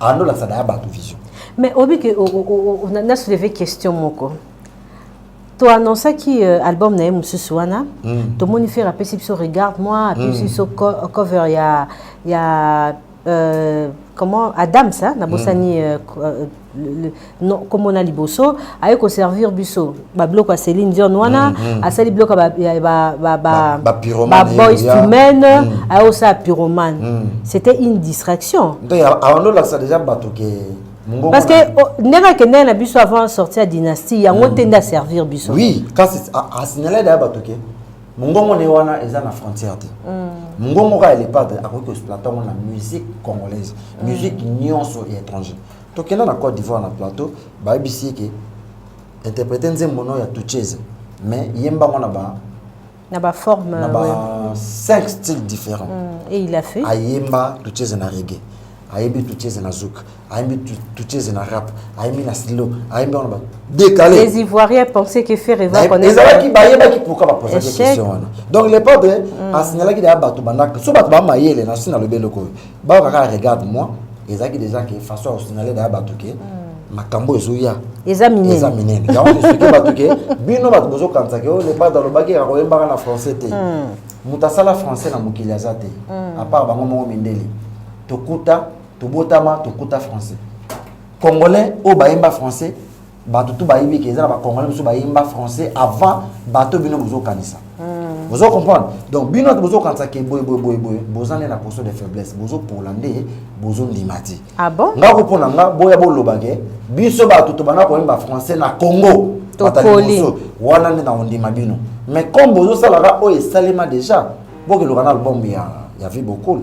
[SPEAKER 2] ando la sada ya batu vision mais obi que
[SPEAKER 1] na soulever question moko to annonçaki euh, album na ye mosusu wana mm. tomoni fere apesi biso regarde moi apesi mm. biso cover ya ya euh, comment adams hein, nabosani mm. euh, non comme on a liboso aye ko servir biso ba bloc ya Céline Dion wana mm, mm. asali bloc ba ba ba ba, ba, ba boys to men mm. aye osa pyromane mm. c'était une distraction donc on a
[SPEAKER 2] ça déjà bato ke parce que
[SPEAKER 1] oh, ndenge akendaki na biso avant sorti ya dynastie yango mm. te nde aservir biso oui kasi
[SPEAKER 2] asignale daya bato ke mongongo ne wana eza na frontière te mm. mongongo kaka elepade akoki koexploite yango na musique congolaise mm. musique nyonso ya étranger tokenda na cote d'ivoire na plateau bayebisi ye ke interprete nzembo no ya tuchese mais yemba yango na ba na ba
[SPEAKER 1] forme na ba ouais.
[SPEAKER 2] cinq styles différents mm, et il a fait
[SPEAKER 1] ayemba tuchese
[SPEAKER 2] na reggae ayembi tuchese na zouk ayembi tuchese na rap ayembi na silo ayembi yango na ba décalé les ivoiriens pensaient
[SPEAKER 1] que faire eva ezalaki bayebaki
[SPEAKER 2] pourquoi bapozaki question wana donc le padre mm. asignalaki deya bato bandaka so bato bamayele na si nalobi eloko oyo Ba kaka la regarde moi ezaki déjà que façon ya signaler da batu que makambo ezoya eza minene eza
[SPEAKER 1] minene yango
[SPEAKER 2] esoki batu ke bino batu bozo kanisa ke oh, le bada lobaki ya koyembaka na français te moto asala français na mokili aza te à part bango moko mindeli tokuta tobotama tokuta français congolais oyo bayemba français bato tu bayebi ke eza na bacongolais mosusu bayemba français avant bato bino bozokanisa hmm. bozo comprendre donc bino ate bozokanisa ke boye boye boye boye boza nde na poso de faiblesse bozopola nde bozondima te ah nga kopo
[SPEAKER 1] na nga boya
[SPEAKER 2] boloba ke biso bato tobanda koyemba français na congo bataliboso
[SPEAKER 1] wana nde na
[SPEAKER 2] kondima bino mais comme bozosalaka oyo esalema déjà bokeloka na album ya, ya vie bokoli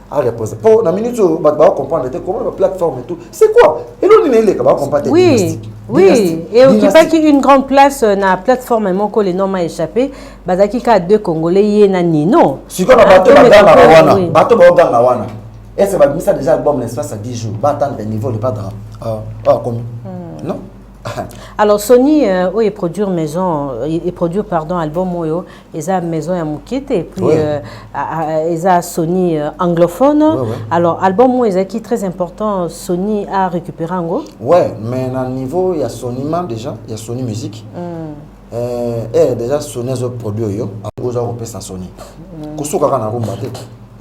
[SPEAKER 2] a reposer po na minute oyo bato bako comprendre te comment ba plateforme et tout c'est quoi eloni na eleka bako comprendre te oui. Oui,
[SPEAKER 1] et occupaki une grande place euh, na plateforme moko le nom m'a échappé bazalaki kaka deux congolais ye na nino sikoyo na bato bagangaka
[SPEAKER 2] wana bato baoganga wana ese babimisa déjà album na espace ya 10 jours batandre niveau le padre euh, euh, akomi hmm. non
[SPEAKER 1] alors sony euh, oyo eproduire maison eproduire pardon album oyo eza maison ya moke te epuis ouais. euh, euh, eza sony euh, anglophone ouais, ouais. alors album oyo ezalaki très important sony a récupéré yango ouais mais na
[SPEAKER 2] niveau ya sony ma déjà ya sony musique mm. euh, eh, déjà sony azo produit oyo oza kopesa sony mm. kosuka kaka na rumba te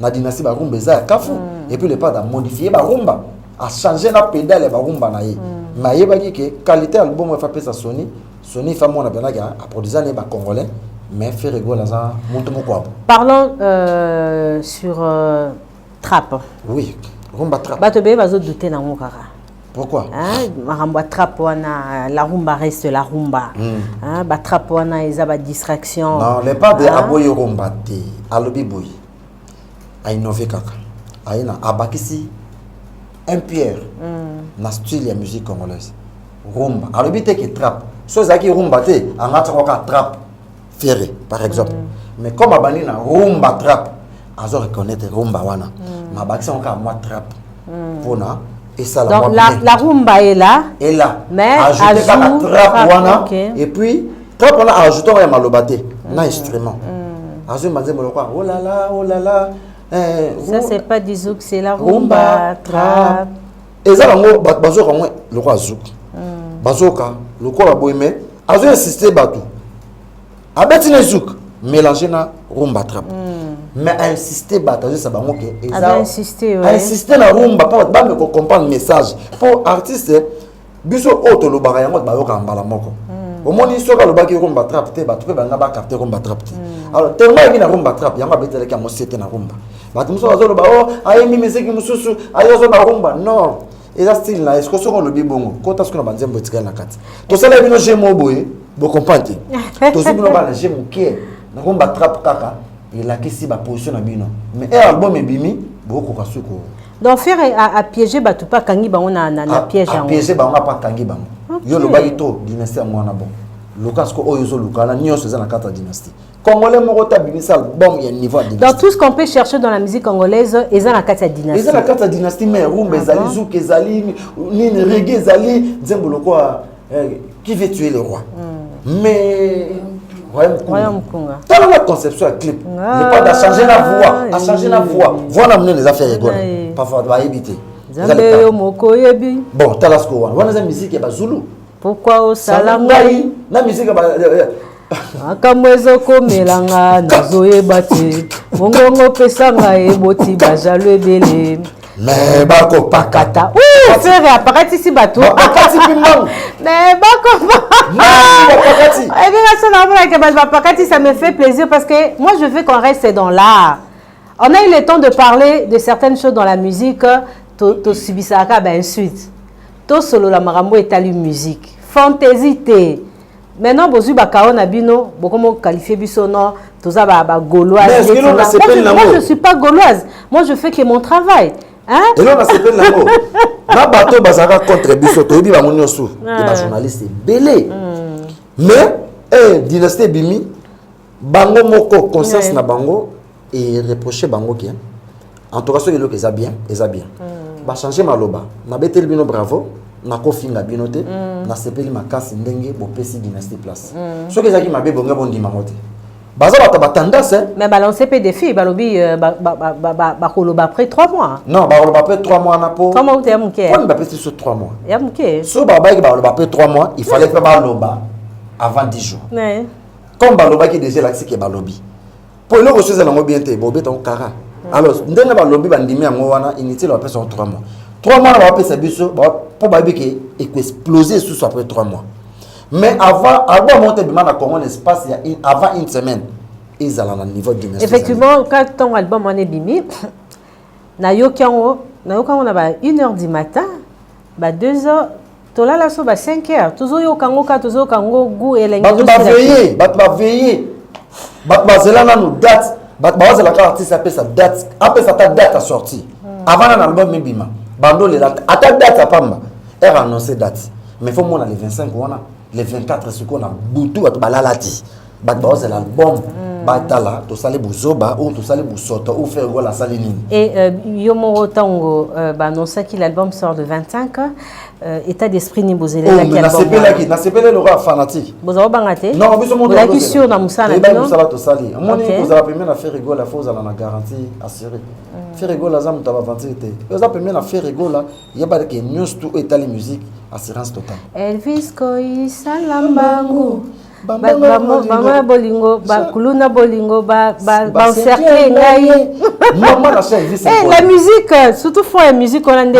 [SPEAKER 2] na dynastie barumba eza ya kafu mm. epuis le pade amodifie barumba achange na pedale ya barumba na ye mm. mais ayebaki ke qualité ya album efa pesa sony Sony fa mwana penaki a produisa ne ba congolais mais Ferre Gola aza muntu mokwabo. Parlons euh,
[SPEAKER 1] sur euh, trap. Oui,
[SPEAKER 2] rumba trap. Bato beye bazo douter na
[SPEAKER 1] ngo kaka. Pourquoi hein?
[SPEAKER 2] Makambo
[SPEAKER 1] trap wana la rumba reste la rumba. Mm. Hein? Ba trap wana eza ba distraction. Non, les pas de hein?
[SPEAKER 2] aboyi rumba te. Alobi boyi. a innove kaka aye na abakisi un pierre mm. na style ya musique congolaise rumba alobi te ke trap so ezalaki rumba te angatakaka trap fiere par exemple mm. mais comme abandi na rumba trap azo reconnaître rumba wana mm. ma abakisi yango kaka mwa trap mm. mpona esala donc la, la rumba
[SPEAKER 1] est là est là mais
[SPEAKER 2] ajoute kaka
[SPEAKER 1] trap
[SPEAKER 2] wana okay. et puis Propre wana a ajouté ya maloba te na instrument. Azui manzembo lokwa oh la la oh la la. Eh, ça
[SPEAKER 1] c'est pas du zouk, c'est la rumba trap. Eza bango
[SPEAKER 2] bazoka ngo lokwa zouk. Hmm. Bazoka lokola boye mais azo insister bato. Abeti na zouk mélanger na rumba trap. Mm. mais ainsister bato azwisa bango ke
[SPEAKER 1] ainsister na rumba mpo
[SPEAKER 2] bato bambe kocomprendre message mpo artiste biso oyo tolobaka yango bayokaka mbala moko hmm. omoni soki alobaki yo komba trape te bato mpe balinga bakarte komba trape te hmm. alors tellement ayebi na rumba trape yango abetelaki yango sete na rumba bato mosusu bazoloba o oh, ayembi miziki mosusu aye azoba rumba non eza style na ye siko soki olobi bongo kota soki na banzembo etikali na kati tosala bino je mo boye bocomprend te tozwi bino bana je moke na rumba trape kaka elakisi baposition na bino mais e album ebimi bokokoka suki Donc Ferre a,
[SPEAKER 1] a piégé batu pa kangi bango na na, na piège yango. A piégé bango pa
[SPEAKER 2] kangi bango. Okay. Yo lobaki to dynastie yango wana bon. Luka siko oyo zo luka na nyonso eza na kata dynastie. Congolais moko ta bimisa album ya niveau ya dynastie. Dans tout ce qu'on peut chercher
[SPEAKER 1] dans
[SPEAKER 2] la
[SPEAKER 1] musique congolaise eza na kata dynastie. Eza na kata dynastie
[SPEAKER 2] mais rumba ah ezali zouk ezali nini reggae ezali nzembo lokola Eh, qui veut tuer le roi mm. mais royaume
[SPEAKER 1] kunga tala na conception ya
[SPEAKER 2] clip lepada ah, achange na voix achange na voix voix na monene eza fere gona parfois bayebi te nzambe yo moko oyebi bon tala siko wana wana eza miziki ya bazulu pourkoi osala
[SPEAKER 1] ngai na miziki
[SPEAKER 2] ya makambo
[SPEAKER 1] ezokomela nga nazoyeba te mongongo pesa nga eboti bajalo ebele me
[SPEAKER 2] bakopakata fere
[SPEAKER 1] apakatisi bato bakati mpe mbangu
[SPEAKER 2] me
[SPEAKER 1] bakopakati
[SPEAKER 2] ebinga so
[SPEAKER 1] namonaka bato bapakati ça me fait plaisir parce que moi je veux qu'on reste dans l'art on a eu le temps de parler de certaines choses dans la musique tosubisaka bainsulte tosolola makambo etali musique fantaisie te Maintenant bozui ba kao na bino bokomo qualifier biso non toza ba ba gauloise. Mais est-ce que l'on a ce peine là Moi je suis pas gauloise. Moi je fais que mon travail. Hein? Et l'on a ce peine là
[SPEAKER 2] Na bateau bazaka contre biso toyebi bango nyosu. Ba journaliste belé. Hmm. Mais eh dynastie bimi bango moko conscience na bango et reprocher bango que en tout cas soki eloko eza bien eza bien mm. bachange maloba nabeteli bino bravo nakofinga bino te mm. nasepeli makasi ndenge bopesi dynastie place mm. soki ezalaki mabe bonge bondima yango te baza bato batendance mais balance mpe
[SPEAKER 1] defi balobi euh, bakoloba après 3 mois non bakoloba après 3 mois
[SPEAKER 2] wana po 3 mois uta ya moke poni
[SPEAKER 1] bapesi biso 3
[SPEAKER 2] mois ya moke so babayaki
[SPEAKER 1] bakoloba
[SPEAKER 2] après 3 mois il fallait mpe baloba avant 10 jours comme
[SPEAKER 1] balobaki
[SPEAKER 2] deja elakisi ke balobi mpo eloko so eza nango bien te bobeta yango kara hmm. alors ndenge balobi bandimi yango wana inutile bapesa yango 3 mois 3 mois na bapesa biso mpo bayebi ke ekoexplose lisusu après 3 mois mais avant album yango te ebima na congo na espace ya avant une semaine ezala na niveau du effectivement ntango
[SPEAKER 1] album wana ebimi nayoki yango nayoki yango na ba 1 heure du matin ba 2 heures tolala so ba 5 heures tozoyoka yango kaka tozoyoka yango gu elenge bato baveye bato
[SPEAKER 2] baveye bato bazela nanu date bato bawazela kaka artiste apesa date apesa ata date ya sortie hmm. avant nana album ebima bandolela ata date apamba heure annonce date mais fo mona le 25 wana le 24 sikoyo na butu bato balala te bato baozela album mm. batala tosali buzoba ou tosali busoto ou frère gola asali nini et euh, yo
[SPEAKER 1] moko ntango euh, baannonsaki l'album sort le 25 euh, état d'esprit nini bozelelaki oh, nasepelaki
[SPEAKER 2] nasepeli lokola fanatique bozala obanga te non
[SPEAKER 1] biso moolaki
[SPEAKER 2] sur na mosala
[SPEAKER 1] ebaki mosala tosali
[SPEAKER 2] omoni kozala pembe na ferre gola fo ozala na garantie assuré mm. ferre gola aza moto ya baventure te oza pembe na ferre gola yeba ke nyonso tu oyo etali musique assurance total elvis
[SPEAKER 1] koyisala mbangu bango ya bolingo bakuluna bolingo baencercle ngai eh,
[SPEAKER 2] la musique euh,
[SPEAKER 1] surtout fond ya musique wana nde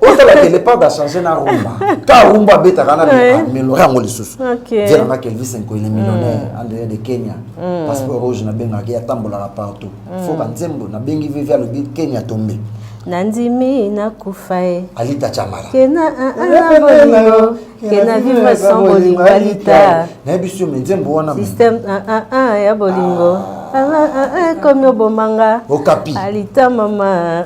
[SPEAKER 1] otala ke
[SPEAKER 2] lepart achange na rumba ka rumba abetaka na melore yango lisusu dielangaki elvis nkoile millionnaire mm. andele de kenya mm. passeport rouge nabengaki atambolaka partout mm. foka nzembo na bengi vivi alobi kenya tombe nandimi
[SPEAKER 1] nakufa e alita chamala
[SPEAKER 2] kena
[SPEAKER 1] bolingo kena vivre sans bolingo alita nayebi sio me nzembo
[SPEAKER 2] wana système
[SPEAKER 1] ya bolingo ah. ekomi obomanga okapi alita
[SPEAKER 2] mama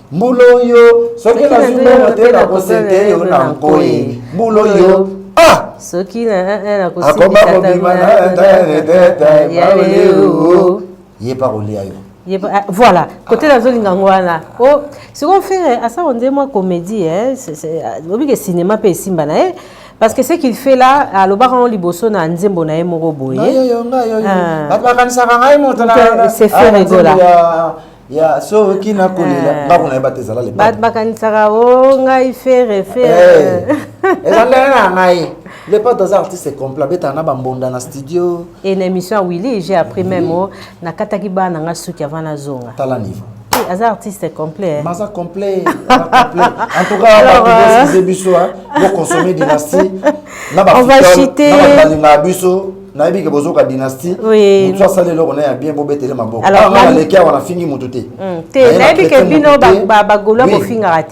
[SPEAKER 2] mbulo yo soki nazwi mbongo te nakosete yo na nkoi mbulo yo ah! soki
[SPEAKER 1] akoma kobima
[SPEAKER 2] na ye pa kolia yo Ah, voilà kote
[SPEAKER 1] nazolinga yango wana o sikoyo fere asala nde mwa comédie lobi ke cinéma mpe esimba na ye parce que ce qu'il fait là alobaka yango liboso na nzembo na ye moko boye ah. bato bakanisaka ngai moto c'est ah, fere gola ya
[SPEAKER 2] soki nakolela eh. ndako na ye bate ezala lebato bakanisaka o
[SPEAKER 1] oh, ngai fere fere eh.
[SPEAKER 2] eza ndenge na ngai lepato aza artiste complet abetaka na bambonda na studio e na émission ya
[SPEAKER 1] willy j'ai appris même o oh, nakataki bana na ngai suki avant nazonga tala niveau eh, aza
[SPEAKER 2] artiste
[SPEAKER 1] complet maza complet
[SPEAKER 2] en tout cas bakoeskize euh, biso boconsommer dynastie na babalingaka
[SPEAKER 1] biso
[SPEAKER 2] nayebi ke bozoka dynastie motu asali eloko
[SPEAKER 1] na ya bien
[SPEAKER 2] bobetele mabokonaleki awa nafingi
[SPEAKER 1] motu
[SPEAKER 2] te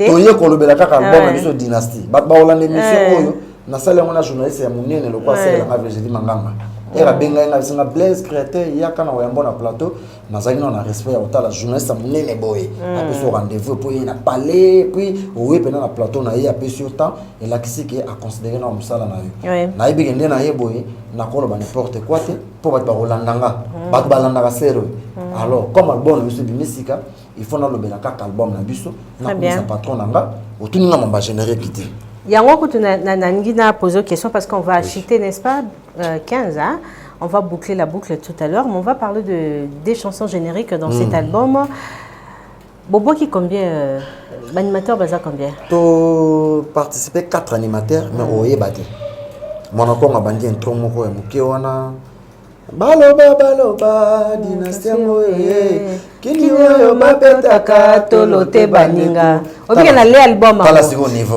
[SPEAKER 1] toye kolobela kaka
[SPEAKER 2] album na biso dynastie bato bakolanda émission eh. oyo nasali yango na journaliste ya monene lokola eh. asalelanga virginie manganga ere abengai nga bisinga blaise créateur yaka na oyambo na plateau nazalaki nao na respect ya kotala journaliste ya monene boye hmm. apesi yo rendez-vous mpo ye na palais puis oye mpena na plateau na ye apesi yo temps elakisi ke aconsidere nao mosala na yo nayebi ke nde na ye boye nakoloba n'importe quoi te mpo bato bakolanda nga hmm. bato balandaka sero hmm. alors comme album na biso ebimi sika il faut nalobela kaka album na biso nakomisa patron na nga otuni nga mamba générique te yango kutu
[SPEAKER 1] nalingi na pose question parce qu'on va acheter n'est-ce pas Euh, 15 hein? on va boucler la boucle tout à l'heure mais on va parler de des chansons génériques dans mmh. cet hmm. album boboki combien euh, animateur baza combien to
[SPEAKER 2] participer quatre animateurs mais hmm. oyeba te mwana kongo abandi intro moko ya moke wana baloba baloba dynastie yango ye kini oyo babetaka tolo te
[SPEAKER 1] baninga obike na le album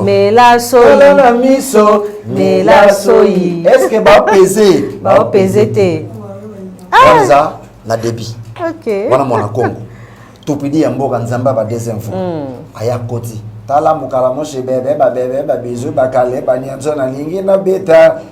[SPEAKER 1] mela soyi na miso
[SPEAKER 2] mela
[SPEAKER 1] soyi
[SPEAKER 2] eske bapeze bapeze te wana ah! na debit wana mwana
[SPEAKER 1] kongo
[SPEAKER 2] topidi ya mboka nzambe aba deuxième fois hmm. aya koti tala mokala moshe bebe babebe babizu bakale banyanso nalingi nabeta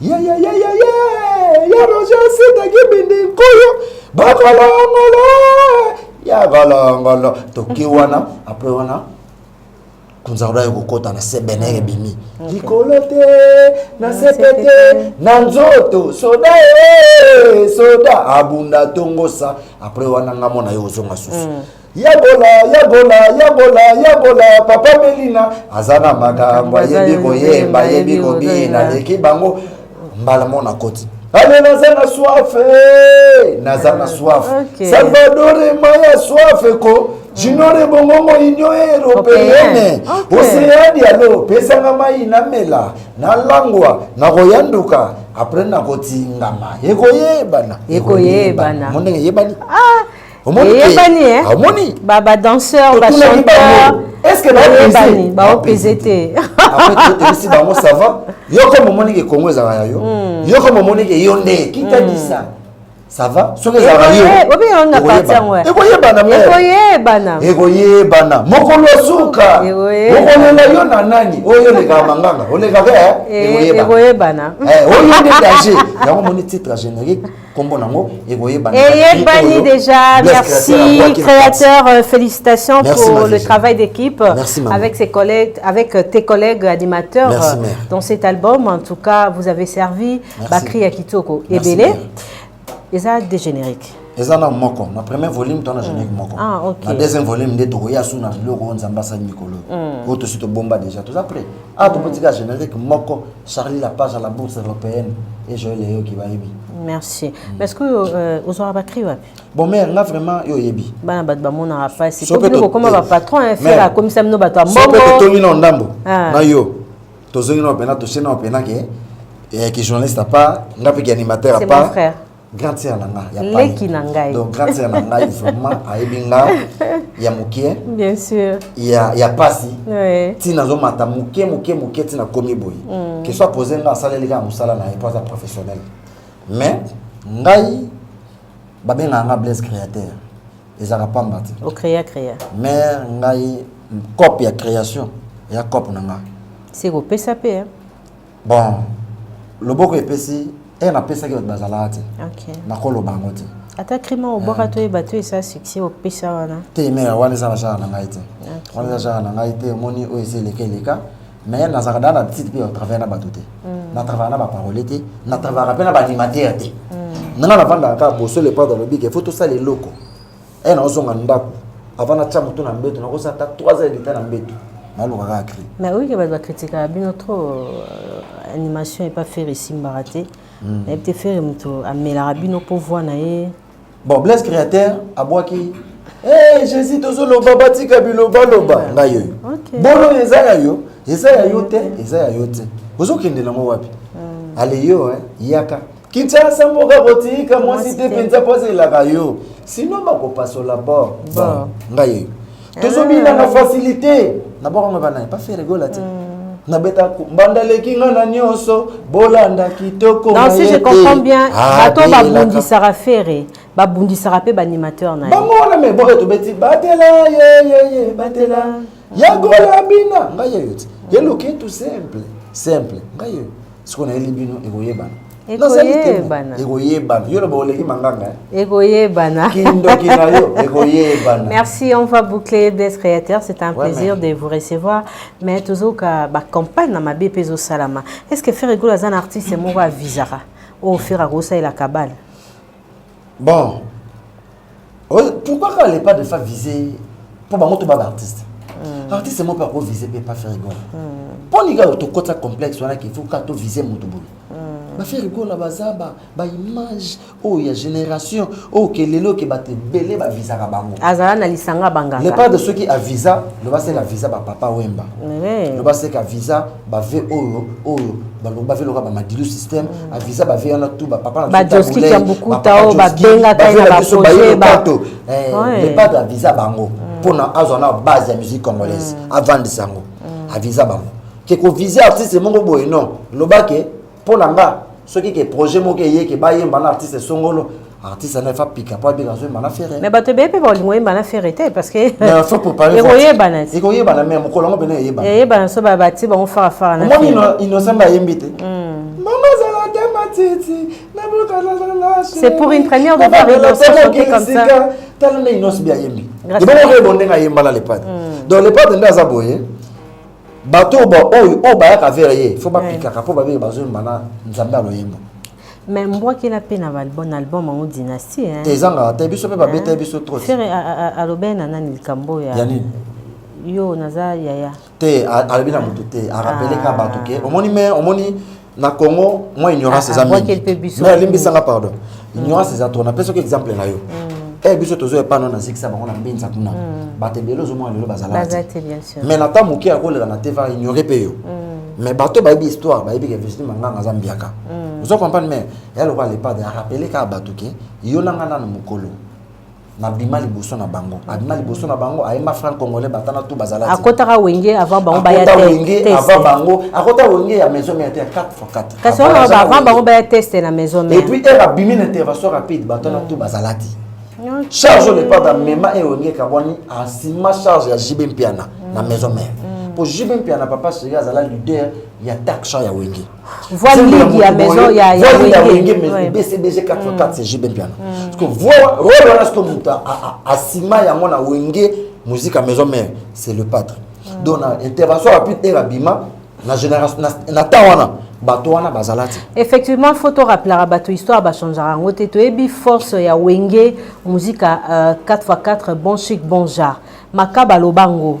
[SPEAKER 2] yeyeyeyeye ya roger sida kibindi nkuyu bakolongolo ya kolongolo toki wana apre wana kunzakolo aye kokota na sebene mm. ebimi mm. likolo te na mm, sepe te na nzoto soda e soda abunda tongosa apres wana nga mona yo ozonga susu Ya gola, ya gola, ya gola, ya gola, papa Melina aza na makambo ayebi koyemba, ayebi kobina, aleki bango mbala mona koti ale naza na swafe eh, naza na swafe okay. salvadore maya swafe ko jinore bongongo union européenne oseani alo pesanga mai namela nalangwa nakoyanduka apres nakotingama ekoyebana ekoyebana mondenge eyebani ah. eyebani eh?
[SPEAKER 1] omoni ba ba danseur ba chanteur est-ce que bayebani
[SPEAKER 2] baopese
[SPEAKER 1] te apesi
[SPEAKER 2] bango ça va yo comme omoni ke kongo ezalaka ya yo hmm. yo comme omoni ke yo nde kitadisa hmm. ça va soki ezalaka yoekoyebana ekoyebana mokolo suka okolela yo na nani oyo olekaka manganga olekaka ekoyebana
[SPEAKER 1] oyo nde
[SPEAKER 2] danger yango omoni titre générique kombo nango ekoyebana eyebani déjà
[SPEAKER 1] merci créateur euh, félicitations merci, pour le travail d'équipe avec ses collègues avec euh, tes collègues animateurs merci, euh, dans cet album en tout cas vous avez servi Bakri ya Kitoko ebele eza des génériques eza na moko
[SPEAKER 2] na premier volume to na générique mm. moko ah, na deuxième
[SPEAKER 1] volume nde tokoya
[SPEAKER 2] su na biloko oyo nzambe asali mikolo mm. oyo tosi tobomba déjà toza prêt a ah, tokotika générique moko Charlie la page à la bourse européenne et Joël Eyo qui va yebi. Merci. Mm. Mais
[SPEAKER 1] est-ce que euh, aux aura bakri wapi? Bon mère, là vraiment
[SPEAKER 2] yo yebi. Bana bat ba mona
[SPEAKER 1] pas si. Sope to comme ba patron hein, faire à comme ça no bat mbongo. Sope to toli na ndambo.
[SPEAKER 2] Ah. Na yo. To zongi na pena to sena pena ke eh ki journaliste à part, ngapi ki animateur à part. C'est mon frère.
[SPEAKER 1] grande sœur na nga
[SPEAKER 2] ya leki na ngai
[SPEAKER 1] donc grande sœur na ngai
[SPEAKER 2] vraiment ayebi nga ya mokie bien sûr ya
[SPEAKER 1] ya pasi
[SPEAKER 2] oui. ti
[SPEAKER 1] nazomata moke
[SPEAKER 2] moke moke ti nakomi boye mm. ke soit pose nga asaleli kaka mosala na ye mpo aza professionnel mais ngai babengaka nga blaise créateur ezalaka pamba te ocréa créa
[SPEAKER 1] mais
[SPEAKER 2] ngai cope ya création eya cope na nga se kopesa
[SPEAKER 1] mpe bon
[SPEAKER 2] loboko epesi e napesaki bato bazalaka te okay. nakoloba yango
[SPEAKER 1] te
[SPEAKER 2] ata crime obwaka
[SPEAKER 1] eh. toyeba to esa succès opesa wana te me wana eza na
[SPEAKER 2] genre na ngai te wana eza genre na ngai te omoni oyo eza eleka eleka mais nazalaka daa na petite mpe batravaille na bato te mm. natravaya na baparole te natravayaka mpe na baanimatere te mm. nanga navandaka kaka boso lepado alobi ke fo tosala eloko eh nazonga ndako avant natya moto na mbeto nakozala ata 3 heures leta na mbeto naloka kaka cri
[SPEAKER 1] mais oyike bato bakritikaka bino trop euh, animation epa fere esimbaka te hmm. nayebi te fere moto amelaka bino mpo voi na ye bon blaise
[SPEAKER 2] créateur abwaki Hey, eh, jésus tozoloba batika bilobaloba ngai oyo bolo
[SPEAKER 1] eza ya yo
[SPEAKER 2] eza ya yo te eza ya yo te ozokendela yango wapi hmm. aleyo yaka Kinshasa mboka kotika mwasi te mpenza mpo azelaka yo sino bakopasola bor bor ngai tozobina na facilité na boko yango bana pa faire rigola te nabeta mbanda leki nga na nyonso bolanda kitoko non si je comprends
[SPEAKER 1] bien bato babundisaka fere babundisaka mpe baanimateur na ye bango wana me boyo tobeti
[SPEAKER 2] batela yeyeye batela ya gola bina ngai yeyo ti ye loketu simple simple ngai yeyo sikoyo nayeli bino ekoyebana ekoyebana
[SPEAKER 1] ekoyebana yo
[SPEAKER 2] loba oleki manganga eh? ekoyebana
[SPEAKER 1] kindoki na
[SPEAKER 2] yo ekoyebana merci on va
[SPEAKER 1] boucler des créateurs c'est un ouais, plaisir mais... de vous recevoir mais tozoka bacampagne na mabe mpe ezosalama est ce que ferre egolo aza na artiste moko avisaka oyo ferre akosalela kabale
[SPEAKER 2] Bon. Euh, pourquoi quand les pas de femmes visées pour bango to ba artiste. Mm. Artiste mo pas ko viser pe pas faire rigole. Mm. Pour les gars to kota complexe wana qu'il faut ka to viser mutu boye. Mm. Ba faire rigole ba za ba ba image oh ya génération oh que lelo que ba te belé ba visa ka bango. Azala na lisanga
[SPEAKER 1] bangaka. Les pas de ceux qui a visa,
[SPEAKER 2] le ba se la visa ba papa Wemba. Mm. Le ba se ka visa ba vie oyo oyo balongo ba vie loka ba madilu système mm. avisa ba vie wana tout ba papa na ba joski ya bukuta
[SPEAKER 1] o ba benga kai na ba projet ba to eh le pas
[SPEAKER 2] de visa bango mm. pona azo na base ya musique congolaise mm. avant de sango avisa bango ke ko viser artiste mongo boye non lobake mpo na nga soki ke projet moko eye ke bayemba na artiste songolo artiste anaye fa pika mpo abika azoyemba na ferre mais bato ebele mpe bakolinga oyemba
[SPEAKER 1] na ferre te parce que
[SPEAKER 2] ekoyebana ekoyebana mais mokolo yango mpena eyebana eyebana so babati
[SPEAKER 1] bango farafara omoni innocent bayembi
[SPEAKER 2] te hmm. mama zala te matiti c'est pour une première
[SPEAKER 1] de voir innocent chanter comme ça tala nde innocent
[SPEAKER 2] bi ayembi ebongo oyebo ndenge ayemba na lepade hmm. donc lepade nde aza boye bato oyo ba- oyo oyo bayaka vere ye fo bapikaka mpo babenge bazoyemba na nzambe ya loyembo mais mbwakela
[SPEAKER 1] mpe na balbum na album yango dynastie hein. te ezangaka te biso mpe babeta
[SPEAKER 2] ye biso trop Ferre a- a- a- alobeli
[SPEAKER 1] na nani likambo oyo ya ya nini
[SPEAKER 2] yo
[SPEAKER 1] naza yaya te a- alobi na
[SPEAKER 2] moto te arapeleka bato ke omoni me omoni na congo mwa ignorance ah, eza ah, mingi mais alimbisanga pardon mm. ignorance eza trop napesa oki exemple na yo mm. e eh, biso tozo epa no nazikisa bango na mbinza kuna mm. bato ebele ozomona lelo bazalaki mais na ntango moke akolela na te va
[SPEAKER 1] ignore
[SPEAKER 2] mpe yo mais bato bayebi histoire bayebi ke virginie manganga aza mbiaka ozo comprendre mais ya lokola lepade arapele kaka bato ke yo na ngai nano mokolo nabima liboso na bango abima liboso na bango ayemba franc congolais batana tu bazala akotaka wenge avant
[SPEAKER 1] bango baya te wenge avant bango
[SPEAKER 2] akota wenge ya maison mère te 4 fois 4 kasi on ba avant
[SPEAKER 1] bango baya teste na maison mère et puis elle abimi na
[SPEAKER 2] intervention rapide batana tu bazala te charge on pas dans mema et wenge kaboni asima charge ya JB Mpiana na maison mère pour JB Mpiana papa Sega azala leader ya taxation ya wenge voix ligue
[SPEAKER 1] ya maison ya ya voix ya wenge mais
[SPEAKER 2] BCBG 44 c'est JB Mpiana parce que voix rôle wana sto mutu asima yango na wenge musique à maison mère c'est le pâtre mm. donc na intervention rapide era bima na génération na temps wana bato wana bazala te effectivement faut
[SPEAKER 1] torappelaka bato histoire bachangeaka yango te toyebi force ya wenge musique à 4 x 4 bon chic bon genre makaba aloba yango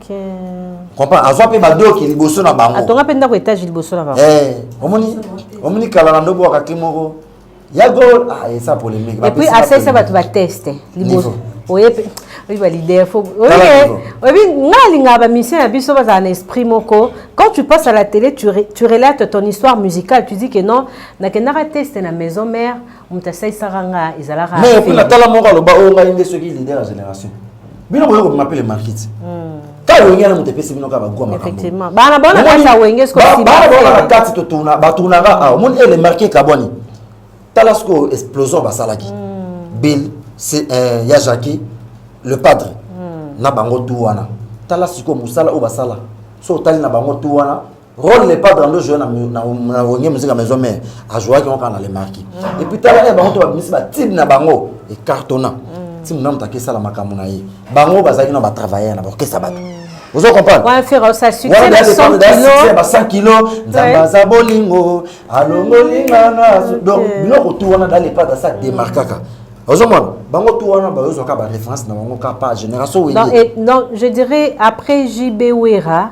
[SPEAKER 1] comprend azwa
[SPEAKER 2] mpe badoki liboso na bango atonga mpe ndako etage liboso
[SPEAKER 1] na bango eh, omoni
[SPEAKER 2] omoni kala na ndobo wakaki moko ya gol ah, esa polemique epuis asalisa bato
[SPEAKER 1] bateste liboso oyebi balider oyebi nga alingaka bamisio na biso bazala na esprit moko quand tu passes à la télé tu, tu relates ton histoire musicale tu dis que non nakendaka teste na maison mère moto asalisaka nga ezalaka mais epuis na tala moko
[SPEAKER 2] aloba oyo oh, ngai nde soki leader ya génération bino boye kobima mpe le markete kaka wenge na moto epesi bino kaka bagwa makambobana
[SPEAKER 1] bona na kati totuna
[SPEAKER 2] batunaka awa omoni ele marke ekabwani tala sikoyo explosion basalaki hmm. bill eh, ya jacqui le padre hmm. na bango tu wana tala sikoyo mosala oyo basala so otali na bango tu wana role le padre ando jouer na na na wenge musique maison mère a jouer ki kaka na le marquis mm. et puis tala ya bango to ba misi ba tib na bango e cartonna mm. ti munamu ta kesa la makambo na ye bango bazaki na ba travailler na ba kesa bato mm. Vous comprenez Ouais, Ferro, ça succès
[SPEAKER 1] voilà, 100 kilos. Ba 100
[SPEAKER 2] kilos, nzamba za bolingo, alongoli ngana. Donc, biloko tout wana dans les pas ça démarquaka. ozomona bango tu wana bayozwaka baréférence na bango kaka pa génération wenge donc je
[SPEAKER 1] dirais après jb wera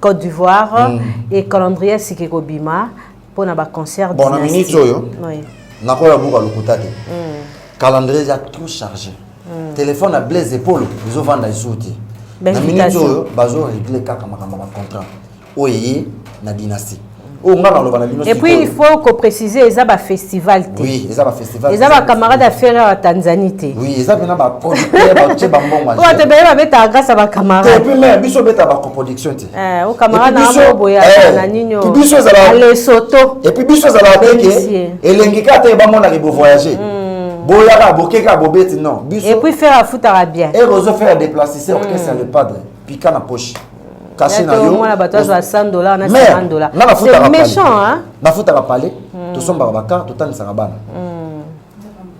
[SPEAKER 1] Côte d'Ivoire mm. et calendrier sike kobima mpo na baconcert bon na minute oyo
[SPEAKER 2] oui. nakoya buka lokuta te mm. calendrier eza trop chargé mm. téléphone ya blaise epolo ezovanda lisusu te na minute oyo bazoregle kaka makambo ya bacontrat oyo eye na dynastie oyo ngai naloba na bino
[SPEAKER 1] et puis il faut ko préciser eza ba festival te oui eza ba festival
[SPEAKER 2] eza ba camarade ya ferre
[SPEAKER 1] ya tanzanie te oui eza pena ba
[SPEAKER 2] producteur ba tse ba mbongo oyo te beye babeta grâce
[SPEAKER 1] à ba camarade et puis mais biso beta
[SPEAKER 2] ba coproduction te eh o camarade na
[SPEAKER 1] mo boya eh, na nino puis biso ezala le
[SPEAKER 2] soto et puis biso
[SPEAKER 1] ezala te
[SPEAKER 2] ke elengi ka te ba mona ke bo voyager hmm. boyaka bokeka bobeti non biso et puis faire afutaka
[SPEAKER 1] bien et ozo faire déplacer
[SPEAKER 2] c'est orchestre hmm. le padre pika na poche kasi na yo
[SPEAKER 1] mwana bato azwa 100 dollars na 50 dollars na nafutaka méchant hein nafutaka palais hmm.
[SPEAKER 2] tosombaka baka totanisaka bana hmm.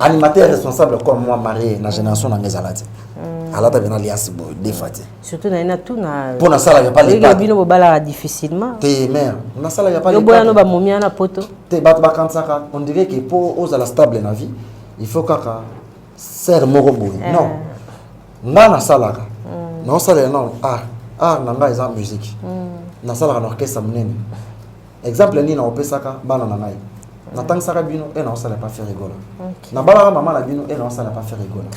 [SPEAKER 2] animateur responsable comme moi marié na génération na ngezala te hmm. alata bena liasi boye defa te surtout na ina tuna
[SPEAKER 1] mpo nasalaka pa leta
[SPEAKER 2] bino bobalaka difficilement
[SPEAKER 1] te mère
[SPEAKER 2] nasalaka pa leta boya no bamomia na poto
[SPEAKER 1] te bato bakanisaka
[SPEAKER 2] on dirait que mpo ozala stable na vie il faut kaka sere moko boye eh. non nga nasalaka mm. naosalela nano art art na ngai eza musike mm. nasalaka na orchestre monene exemple nini naopesaka bana na ngai mm. natangisaka bino e naosala pa faire rigola nabalaka mama na bino e naosala pa faire rigola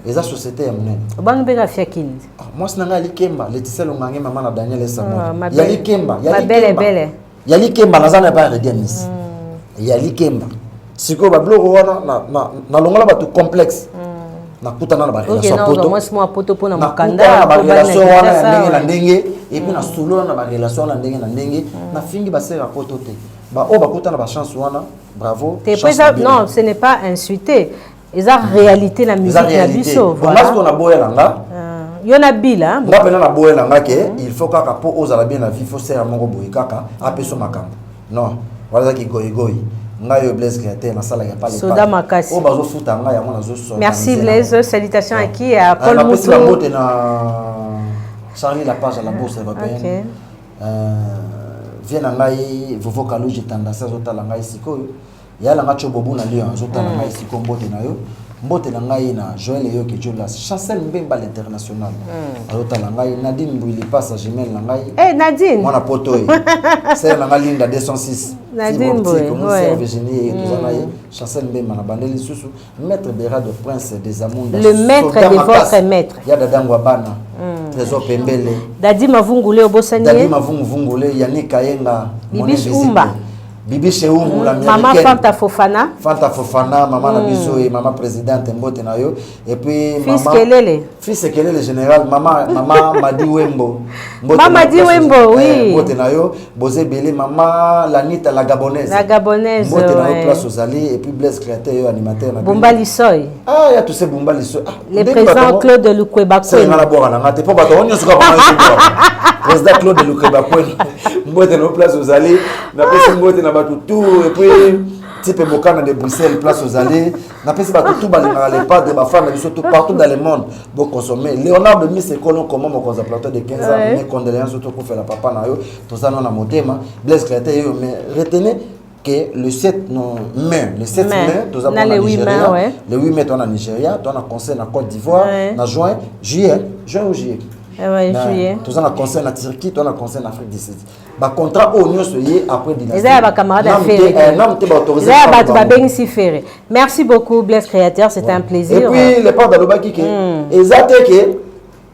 [SPEAKER 2] eza société
[SPEAKER 1] ya monene
[SPEAKER 2] ah,
[SPEAKER 1] mwasi na ngai ya
[SPEAKER 2] likemba leticia longange mama na daniel esambo ah, ya likemba
[SPEAKER 1] ya likemba
[SPEAKER 2] ya likemba naza na epai ya redia
[SPEAKER 1] miss
[SPEAKER 2] mm. ya
[SPEAKER 1] likemba
[SPEAKER 2] sikoyo babiloko wana nalongola bato complexe mm. nakutana na barelation wana ya ndenge na ndenge epuis nasolola na barelation wana ya ndenge na ndenge mm. nafingi basere ya poto te baoyo bakutana bachance wana bravo non ce
[SPEAKER 1] n'est pas insulté eza réalité na musique na biso voilà parce qu'on a boya na
[SPEAKER 2] nga euh, yo na bila
[SPEAKER 1] nga pena na boya na nga
[SPEAKER 2] ke mm. il faut kaka po ozala bien na vie faut sera moko boye kaka apeso makambo non wala ki goyi goyi nga yo Blaise Créateur nasala ya pale soda makasi o bazo
[SPEAKER 1] futa nga yango
[SPEAKER 2] nazo so merci Blaise
[SPEAKER 1] salutation à qui à Paul Moutou na pesi la mbote na
[SPEAKER 2] Charlie la page à la bourse européenne okay. euh, vie na ngai vovo kaluji tandasi azotala ngai sikoyo ya langa cho bobu na lion azotala mm. ngai siko mbote na yo mbote na ngai na joel eyoki jolas chancel mbemba l'international mm. azotala ngai nadine mbwili pasa jumel na ngai hey, eh, nadine mwana poto
[SPEAKER 1] ye
[SPEAKER 2] sere na ngai linda 206 nadine
[SPEAKER 1] mbwili virginie
[SPEAKER 2] toza na ye mm. chancel mbemba na bande lisusu Maître Berado Prince des Amunda. Le maître de votre
[SPEAKER 1] maître. Ya dada Ngwabana.
[SPEAKER 2] Mm. Trésor Pembele. Dadi Mavungule
[SPEAKER 1] obosani. Dadi Mavungule
[SPEAKER 2] Yannick Kayenga. Bibi Umba.
[SPEAKER 1] Bibi Sheumbu
[SPEAKER 2] mm. l'américaine. Maman Fanta Fofana.
[SPEAKER 1] Fanta Fofana, maman
[SPEAKER 2] mm. na biso et maman présidente mbote na yo. Et puis Fils maman Fils Kelele. Fils Ekelele général mama mama Madi Wembo. Mama Madi
[SPEAKER 1] Wembo eh, oui. Mbote na yo boze
[SPEAKER 2] belé mama Lanita la gabonaise. La gabonaise. Mbote na yo place ozali et puis Blaise créateur yo animateur na. Bomba Lisoy.
[SPEAKER 1] Ah ya tu sais Bomba
[SPEAKER 2] Lisoy. Ah, Le président
[SPEAKER 1] Claude Lukweba Kwen. C'est na bora na ngate
[SPEAKER 2] po bato onyo suka ba. Président Claude Lukweba Kwen. Mbote na place ozali na pesi mbote na bato tout et puis type Bokana de Bruxelles place ozali napesi bato tu balingaka le padre bafana biso tout partout dans le monde boconsomme léonard de mis ekolo koma mokonzi ya plateau de 15 ans mes condoléances oto kofela papa na yo toza nao na motema blaise clate yeyo mais retenez que le 7 non, mai, le 7 mai, mai toza na le 8 mai, ouais. le 8 mai toza na Nigeria, toza na conseil na Côte d'Ivoire, ouais. na juin, juillet, juin ou juillet. Eh ouais, na, juillet.
[SPEAKER 1] Toza na conseil na
[SPEAKER 2] Turquie, toza na conseil na Afrique du Sud. ba contrat oyo nyonso ye après dynastie eza ya ba camarade ya ferre
[SPEAKER 1] eh, namu te ba autorisé eza ya bato babengisi ferre merci beaucoup bless créateur c'est un plaisir et puis le père
[SPEAKER 2] alobaki ke hmm. eza te ke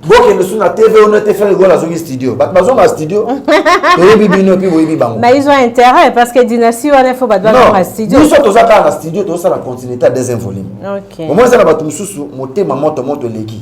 [SPEAKER 2] bokende su na tv ono te ferre gola azongi studio bato bazonga studio toyebi bino epuis boyebi bango mais ils ont intérêt
[SPEAKER 1] parce que dynastie wana il faut bato bazonga studio biso toza kaka na studio
[SPEAKER 2] tozosala continuité ya deuxième volume omoi eza na bato
[SPEAKER 1] mosusu
[SPEAKER 2] motema moto moto eleki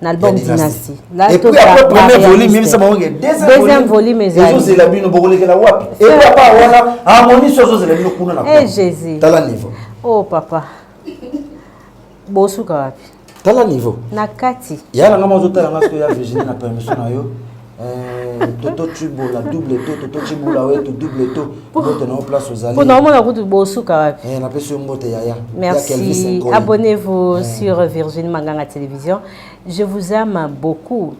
[SPEAKER 1] na album dynastie et puis après
[SPEAKER 2] premier volume yebisa bango ke deuxième volume
[SPEAKER 1] ezozela bino bokolekela
[SPEAKER 2] wapi et puis apa wana harmonie so azozela bino kuna na eh, jésus
[SPEAKER 1] tala niveau oh
[SPEAKER 2] papa
[SPEAKER 1] bosuka wapi tala niveau
[SPEAKER 2] na kati yala
[SPEAKER 1] nga mazotala
[SPEAKER 2] nga soki ya virginie na permission na yo Eh, toto cibola double to toto cibola wetu double to mbote na yo place ozali mpo naomona kutu bosuka
[SPEAKER 1] wapi eh, napesi yo mbote yaya
[SPEAKER 2] merci
[SPEAKER 1] abonnez-vous eh. sur virginie manganga télévision je vous aime beaucoup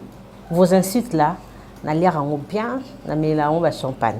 [SPEAKER 1] vos insultes là naliaka yango bien namelela yango bachampagne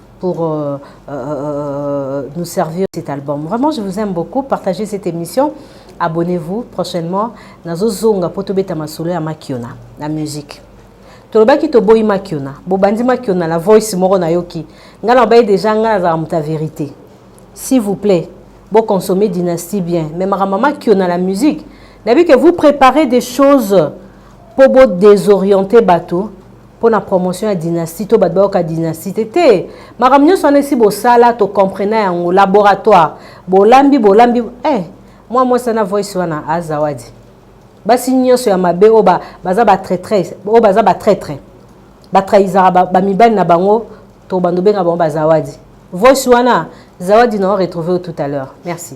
[SPEAKER 1] pour euh, euh, euh, nous servir cet album. Vraiment, je vous aime beaucoup. Partagez cette émission. Abonnez-vous prochainement. Nazo zonga poto beta masolo ya makiona, la musique. tolobaki toboyi makiona bobandi makiona na voice moko nayoki ngai nabaye deja ngai nazala moto ya verité s'il vous plaît boconsomme dynastie bien mais makambo makiona la musique nayebi que vous préparez des choses mpo bodésoriente bato mpo na promotion ya dynastie to bato bayoka dynastie te te makambo nyonso wana esi bosala tocomprena yango laboratoire bolambi bolambi eh, mwa mwasi wana voice wana azawadi basi nyonso ya mabe oyo baza batraitres oyo baza batraitre batrahisaka bamibali na bango tobanda obenga bango bazawadi voice wana zawadi na o retrouve tout à l'heure merci